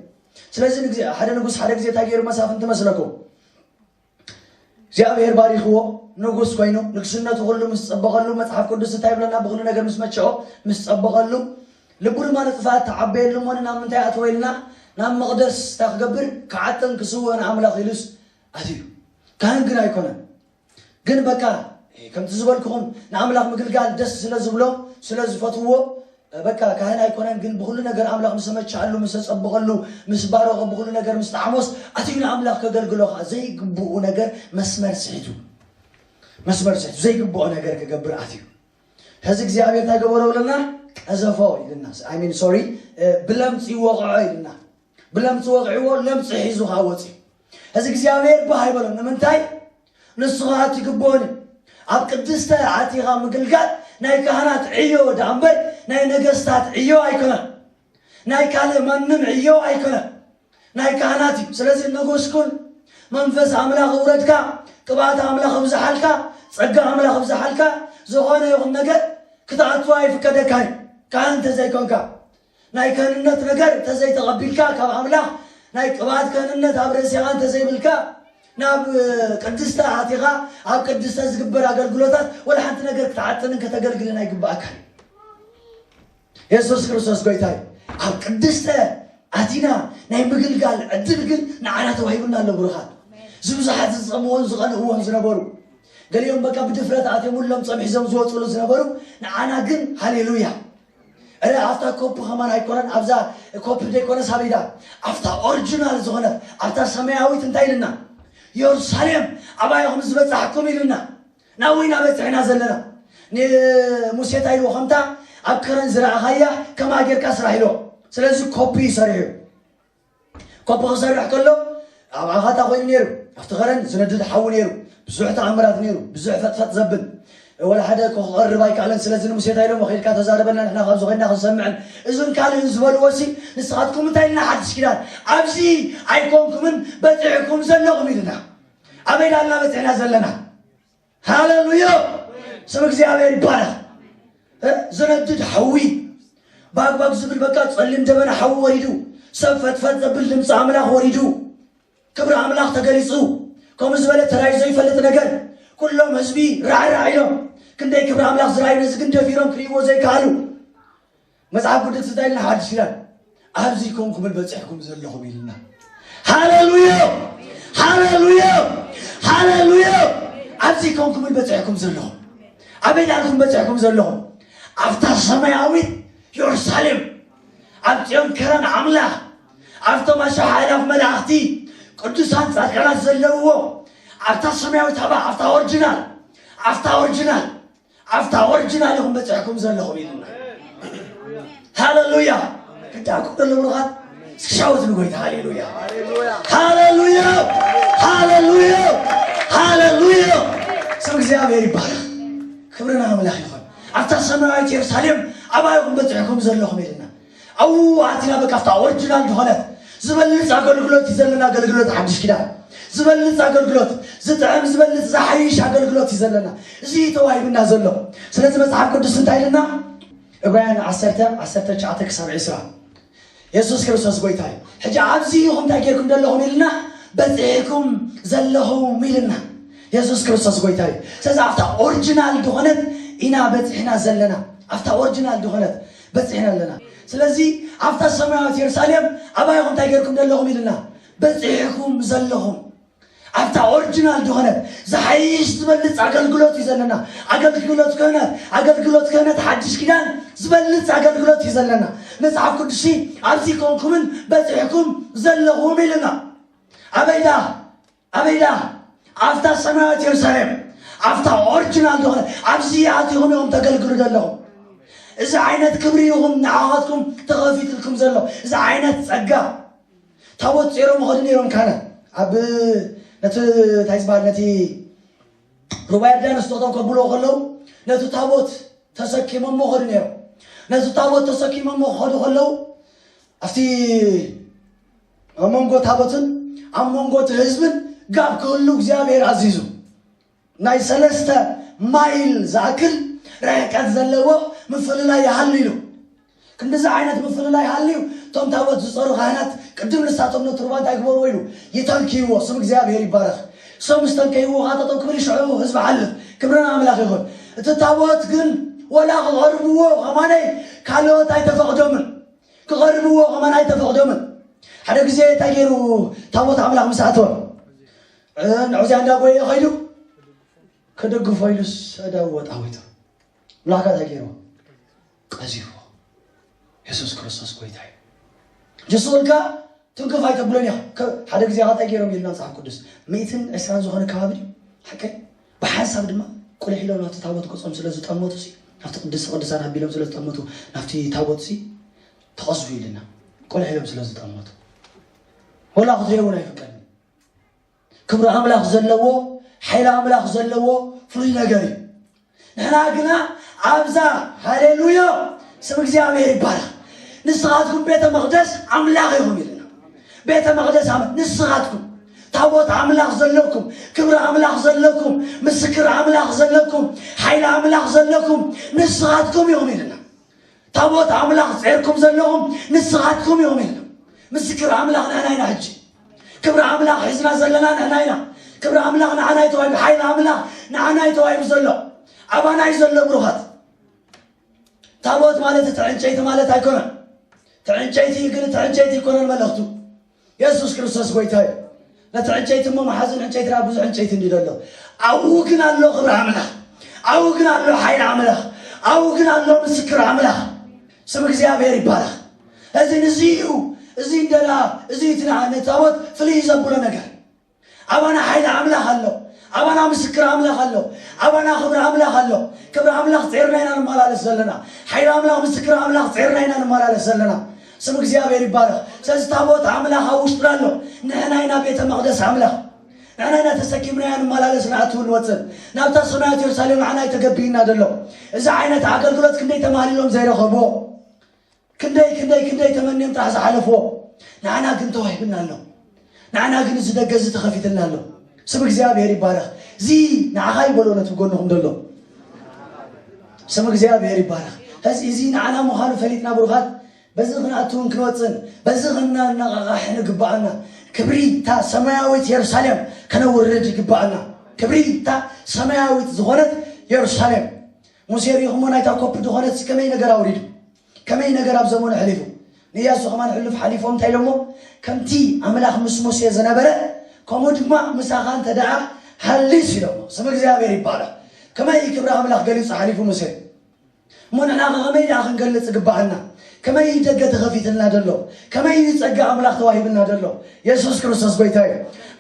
Speaker 1: ስለዚ ሓደ ንጉስ ሓደ ግዜ እንታይ ገይሩ መሳፍንቲ መስለኩም እግዚኣብሔር ባሪኽዎ ንጉስ ኮይኑ ንግስነቱ ኩሉ ምስ ጸበቐሉ መጽሓፍ ቅዱስ እንታይ ይብለና ብኩሉ ነገር ምስ መቸኦ ምስ ጸበቐሉ ልቡ ድማ ንጥፋት ተዓበየሉ እሞ ናብ ምንታይ ኣተወ ኢልና ናብ መቕደስ እንታይ ክገብር ክዓጥን ክስውእን ኣምላኽ ኢሉስ ኣትዩ ካህን ግን ኣይኮነን ግን በቃ ከምቲ ዝበልኩኹም ንኣምላኽ ምግልጋል ደስ ስለ ዝብሎ ስለ ዝፈትውዎ በቃ ካህን ኣይኮነን ግን ብኹሉ ነገር ኣምላኽ ምስ ኣመቸኣሉ ምስ ኣጸበቐሉ ምስ ባረኾ ብኹሉ ነገር ምስ ጠዓሞስ ኣትዩ ንኣምላኽ ከገልግሎ ኸዓ ዘይግብኡ ነገር መስመር ስሒቱ መስመር ስሒቱ ዘይግብኦ ነገር ክገብር ኣትዩ ሕዚ እግዚኣብሔር እንታይ ገበሮ ብለና ቀዘፎ ኢልና ኣይሚን ሶሪ ብለምፂ ወቕዖ ኢልና ብለምፂ ወቕዕዎ ለምፂ ሒዙ ከዓ ወፂኡ እዚ እግዚኣብሔር ባህ ኣይበሎም ንምንታይ ንሱ ከዓ ትግብኦን እዩ ኣብ ቅድስተ ኣቲኻ ምግልጋል ናይ ካህናት ዕዮ ድኣ እምበር ናይ ነገስታት ዕዮ ኣይኮነን ናይ ካልእ ማንም ዕዮ ኣይኮነን ናይ ካህናት እዩ ስለዚ ነጎስኩን መንፈስ ኣምላኽ እውረድካ ቅብኣት ኣምላኽ እብዝሓልካ ጸጋ ኣምላኽ እብዝሓልካ ዝኾነ ይኹን ነገር ክትኣትዋ ይፍቀደካ እዩ ካህን እንተዘይኮንካ ናይ ከህንነት ነገር እንተዘይ ተቐቢልካ ካብ ኣምላኽ ናይ ቅብኣት ከህንነት ኣብ ርእሲኻ እንተዘይብልካ ናብ ቅድስተ ኣቲኻ ኣብ ቅድስተ ዝግበር ኣገልግሎታት ወላ ሓንቲ ነገር ክትዓጥንን ከተገልግልን ኣይግባኣካን እዩ የሱስ ክርስቶስ ጎይታ እዩ ኣብ ቅድስተ ኣቲና ናይ ምግልጋል ዕድል ግን ንዓና ተዋሂቡና ኣሎ ብሩኻት እዚ ብዙሓት ዝፀምዎን ዝቐንእዎን ዝነበሩ ገሊኦም በቃ ብድፍረት ኣትየምሎም ፀምሒዞም ዝወፅሉ ዝነበሩ ንዓና ግን ሃሌሉያ እረ ኣብታ ኮፒ ከማን ኣይኮነን ኣብዛ ኮፒ ዘይኮነስ ኣበይ ድኣ ኣብታ ኦሪጂናል ዝኾነት ኣብታ ሰማያዊት እንታይ ኢልና ዮርሳሌም ኣባይ ኹም ዝበጻሕኩም ኢልና ናብይ ናበጽሕና ዘለና ንሙሴ እንታይ ኢልዎ ከምታ ኣብ ከረን ዝረኣኻያ ከማ ጌርካ ስራሕ ኢልዎ ስለዚ ኮፒ እዩ ሰሪሑ ኮቦ ክሰርሕ ከሎ ኣብ ዓኻታ ኮይኑ ነይሩ ኣብቲ ከረን ዝነድድ ሓዊ ነይሩ ብዙሕ ተኣምራት ነይሩ ብዙሕ ፈጥፈጥ ዘብል ወላ ሓደ ክቐርብ ኣይከኣለን ስለዚ ንሙሴ እንታይ ኢሎሞ ከይድካ ተዛረበልና ንሕና ካብዚ ኮይና ክንሰምዕን እዝን ካልእን ዝበልዎ ሲ ንስኻትኩም እንታይ ኢልና ሓድሽ ኪዳን ኣብዚ ኣይኮንኩምን በፂዕኩም ዘለኹም ኢልና ኣበይ ዳልና በፂዕና ዘለና ሃለሉያ ስም እግዚኣብሔር ይባረክ። እ፣ ዝነድድ ሓዊ ባግባግ ዝብል በቃ ጸሊም ደበና ሓዊ ወሪዱ ሰብ ፈትፈት ዘብል ድምፂ ኣምላኽ ወሪዱ ክብሪ ኣምላኽ ተገሊጹ ከምኡ ዝበለ ተራዩ ዘይፈልጥ ነገር ኩሎም ህዝቢ ራዕራዕ ኢሎም ክንደይ ክብሪ ኣምላኽ ዝረኣዩ ነዚ ግን ደፊሮም ክርእይዎ ዘይከኣሉ መጽሓፍ ቅዱስ እንታይ ኢልና ሓድሽ ኪዳን ኣብዚ ኮንኩምን በጺሕኩም ዘለኹም ኢልና ሃሌሉያ ሃሌሉያ ሃሌሉያ ኣብዚ ኮንኩምን በጺሕኩም ዘለኹም ኣበይ ዳርኩም በጺሕኩም ዘለኹም ኣብታ ሰማያዊት የሩሳሌም ኣብ ጽዮን ከረን ኣምላኽ ኣብቶም ኣሸሓ ኣእላፍ መላእኽቲ ቅዱሳን ጻድቃናት ዘለውዎ ኣብታ ሰማያዊት ሃባ ኣብታ ኦርጅናል ኣብታ ኦርጅናል ኣብታ ኦርጅናል ኢኹም በፂሕኩም ዘለኹም ኢሉና ሃለሉያ ክዳንኩም ደሎ ብሩኻት እስኪ ሻወት ንጎይታ ሃሌሉያ ሃሌሉያ ሃሌሉያ ሃሌሉያ ስም እግዚኣብሔር ይባረኽ ክብሪ ንኣምላኽ ይኹን ኣብታ ሰማያዊት የሩሳሌም ኣባይኹም በፂሕኩም ዘለኹም ኢልና ኣዉ ኣቲና በቃ ኣብታ ኦርጅናል ድኾነት ዝበልጽ ኣገልግሎት እዩ ዘለና ኣገልግሎት ሓድሽ ኪዳን ዝበልጽ ኣገልግሎት ዝጥዕም ዝበልጽ ዝሓይሽ ኣገልግሎት እዩ ዘለና እዚ እዩ ተዋሂብና ዘሎ ስለዚ መጽሓፍ ቅዱስ እንታይ ኢልና ዕብራውያን ዓሰርተ ዓሰርተ ትሽዓተ ክሳብ ዕስራ የሱስ ክርስቶስ ጎይታ እዩ ሕጂ ኣብዚ ኢኹም እንታይ ጌርኩም ዘለኹም ኢልና በጺሕኩም ዘለኹም ኢልና የሱስ ክርስቶስ ጎይታ እዩ ስለዚ ኣብታ ኦርጅናል ድኾነት ኢና በጺሕና ዘለና ኣብታ ኦርጅናል ድኾነት በጺሕና ኣለና ስለዚ ኣብታ ሰማያዊት የሩሳሌም ኣባይኩም እንታይ ገርኩም ደለኹም ኢልና በጺሕኩም ዘለኹም ኣብታ ኦሪጂናል ዝኾነት ዝሓይሽ ዝበልጽ ኣገልግሎት እዩ ዘለና ኣገልግሎት ክህነት ኣገልግሎት ክህነት ሓድሽ ኪዳን ዝበልጽ ኣገልግሎት እዩ ዘለና መጽሓፍ ቅዱስ ኣብዚ ኮንኩምን በጺሕኩም ዘለኹም ኢልና ኣበይዳ ኣበይ ደኣ ኣብታ ሰማያዊት የሩሳሌም ኣብታ ኦርጅናል ዝኾነ ኣብዚ ኣቲኹም ኢኹም ተገልግሉ ዘለኹም እዚ ዓይነት ክብሪ ይኹም ንዓኻትኩም ተኸፊትልኩም ዘሎ እዚ ዓይነት ጸጋ ታቦት ጸይሮም ይኸዱ ነይሮም ካነ ኣብ ነቲ እንታይ ዝበሃል ነቲ ሩባ ዮርዳኖስ ጠጠው ከብልዎ ከለዉ ነቲ ታቦት ተሰኪሞሞ ኸዱ ነይሮም ነቲ ታቦት ተሰኪሞሞ ክኸዱ ከለዉ ኣብቲ ኣብ መንጎ ታቦትን ኣብ መንጎ እቲ ህዝብን ጋብ ክህሉ እግዚኣብሔር ኣዚዙ ናይ ሰለስተ ማይል ዝኣክል ርሕቀት ዘለዎ ምፍልላይ ይሃሉ ኢሉ ክንዲዚ ዓይነት ምፍልላይ ሃልዩ እቶም ታቦት ዝፀሩ ካህናት ቅድም ንሳቶም ነቲ ሩባ እንታይ ግበርዎ ኢሉ ይተንክይዎ ስም እግዚኣብሔር ይባረኽ እሶም ምስ ተንከይዎ ካ ጠጠው ክብል ይሽዑ ህዝቢ ሓልፍ ክብርን ኣምላኽ ይኹን እቲ ታቦት ግን ወላ ክቐርብዎ ከማነይ ካልኦት ኣይተፈቕዶምን ክቐርብዎ ከማን ኣይተፈቕዶምን። ሓደ ግዜ እንታይ ገይሩ ታቦት ኣምላኽ ምስ ኣተወ ንዑዝያ እንዳጎየ ኸይዱ ክድግፎ ኢሉስ እዳው ወጣዊቱ ምላካ እንታይ ገይሩ ቀዚዎ የሱስ ክርስቶስ ጎይታ እዩ ጀሱ እልካ ትንክፍ ኣይተብሎን ኢኻ ሓደ ግዜ ኸ እንታይ ገይሮም ኢልና መፅሓፍ ቅዱስ ሚእትን ዕስራን ዝኾነ ከባቢ ድዩ ሓቀይ ብሓንሳብ ድማ ቁሊሕሎም ናብቲ ታቦት ገጾም ስለ ዝጠመቱሲ፣ ናብቲ ቅድስተ ቅዱሳን ኣቢሎም ስለ ዝጠመቱ፣ ናብቲ ታቦትሲ ተቐዝፉ ኢሉና። ቁሊሕሎም ስለ ዝጠመቱ ወላ ክትሪኦ እውን ኣይፍቀድን። ክብሪ ኣምላኽ ዘለዎ ሓይሊ ኣምላኽ ዘለዎ ፍሉይ ነገር እዩ። ንሕና ግና ኣብዛ ሃሌሉያ ስም እግዚኣብሔር ይባረኽ ንስኻትኩም ቤተ መቕደስ ኣምላኽ ኢኹም ኢልና ቤተ መቕደስ ኣምላኽ ንስኻትኩም ታቦት ኣምላኽ ዘለኩም፣ ክብሪ ኣምላኽ ዘለኩም፣ ምስክር ኣምላኽ ዘለኩም፣ ሓይሊ ኣምላኽ ዘለኩም ንስኻትኩም ኢኹም ኢልና። ታቦት ኣምላኽ ጼርኩም ዘለኹም ንስኻትኩም ኢኹም ኢልና። ምስክር ኣምላኽ ንሕና ኢና ሕጂ ክብሪ ኣምላኽ ሒዝና ዘለና ንሕና ኢና። ክብሪ ኣምላኽ ንዓና እዩ ተዋሂቡ፣ ሓይሊ ኣምላኽ ንዓና እዩ ተዋሂቡ ዘሎ ኣባና እዩ ዘሎ ብሩኻት። ታቦት ማለት እቲ ዕንጨይቲ ማለት ኣይኮነን። እቲ ዕንጨይቲ ግን እቲ ዕንጨይቲ ኣይኮነን መልእኽቱ የሱስ ክርስቶስ ጎይታ እዩ ነቲ ዕንጨይቲ እሞ መሓዙን ዕንጨይቲ ናብ ብዙሕ ዕንጨይቲ እንዲ ዘሎ ኣብኡ ግን ኣሎ ክብሪ ኣምላኽ ኣብኡ ግን ኣሎ ሓይሊ ኣምላኽ ኣብኡ ግን ኣሎ ምስክር ኣምላኽ ስም እግዚኣብሔር ይባላኽ እዚ ንዚ እዩ እዚ እንደላ እዚ እቲ ንዓነ ታቦት ፍልይ ዘብሎ ነገር ኣባና ሓይሊ ኣምላኽ ኣሎ። ኣባና ምስክር ኣምላኽ ኣሎ። ኣባና ክብሪ ኣምላኽ ኣሎ። ክብሪ ኣምላኽ ጼርና ኢና ንመላለስ ዘለና። ሓይሊ ኣምላኽ ምስክር ኣምላኽ ጼርና ኢና ንመላለስ ዘለና። ስም እግዚኣብሔር ይባረኽ። ስለዚ ታቦት ኣምላኽ ኣብ ውሽጥና ኣሎ። ንሕና ኢና ቤተ መቕደስ ኣምላኽ። ንሕና ኢና ተሰኪምናያ ንመላለስ ንኣትው ንወፅን ናብታ ሰማያት የሩሳሌም ንዓና ተገቢእና ዘሎ እዚ ዓይነት ኣገልግሎት ክንደይ ተማህሊሎም ዘይረኸብዎ ክንደይ ክንደይ ክንደይ ተመንዮም ጥራሕ ዝሓለፍዎ ንዓና ግን ተዋሂብና ኣሎ ንዓና ግን እዚ ደገ እዚ ተኸፊትልና ኣሎ ስም እግዚኣብሔር ይባረኽ እዚ ንዓኻ ይበሎ ነት ብጎንኹም ደሎ ስም እግዚኣብሔር ይባረኽ እዚ እዚ ንዓና ምዃኑ ፈሊጥና ብሩኻት በዚ ክንኣትውን ክንወፅን በዚ ክናነቃቃሕ ንግባኣና ክብሪ እታ ሰማያዊት የሩሳሌም ከነውርድ ይግባኣና ክብሪ እታ ሰማያዊት ዝኾነት የሩሳሌም ሙሴ ርኢኹሞ ናይታ ኮፒ ዝኾነትሲ ከመይ ነገር ኣውሪዱ ከመይ ነገር ኣብ ዘመኑ ሕሊፉ ንያሱ ከማን ሕሉፍ ሓሊፎም እንታይ ኢሎሞ ከምቲ ኣምላኽ ምስ ሙሴ ዝነበረ ከምኡ ድማ ምሳኻ እንተ ደኣ ሃሊስ ኢሎሞ ስም እግዚኣብሔር ይባረኽ ከመይ ክብሪ ኣምላኽ ገሊጹ ሓሊፉ ሙሴ እሞ ንሕና ከመይ ደኣ ክንገልጽ ግባኣና ከመይ እዩ ደገ ተኸፊትልና ደሎ ከመይ እዩ ጸጋ ኣምላኽ ተዋሂብና ደሎ የሱስ ክርስቶስ ጎይታ እዩ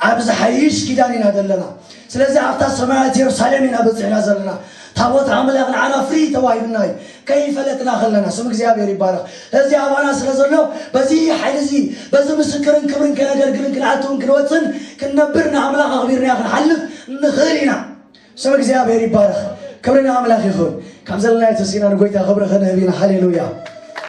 Speaker 1: ኣብ ዝሓይሽ ኪዳን ኢና ዘለና ስለዚ ኣብታ ሰማያት የሩሳሌም ኢና በጺሕና ዘለና ታቦት ኣምላኽ ንዓና ፍሪ ተዋሂብና እዩ ከይፈለጥና ከለና ስም እግዚኣብሔር ይባረኽ እዚ ኣባና ስለ ዘሎ በዚ ሓይሊ እዚ በዚ ምስክርን ክብርን ከነገልግልን ክንኣትውን ክንወፅን ክንነብር ንኣምላኽ ኣኽቢርና ክንሓልፍ ንኽእል ኢና ስም እግዚኣብሔር ይባረኽ ክብሪ ንኣምላኽ ይኹን ካብ ዘለና የተሲና ንጎይታ ክብሪ ክንህብ ኢና ሃሌሉያ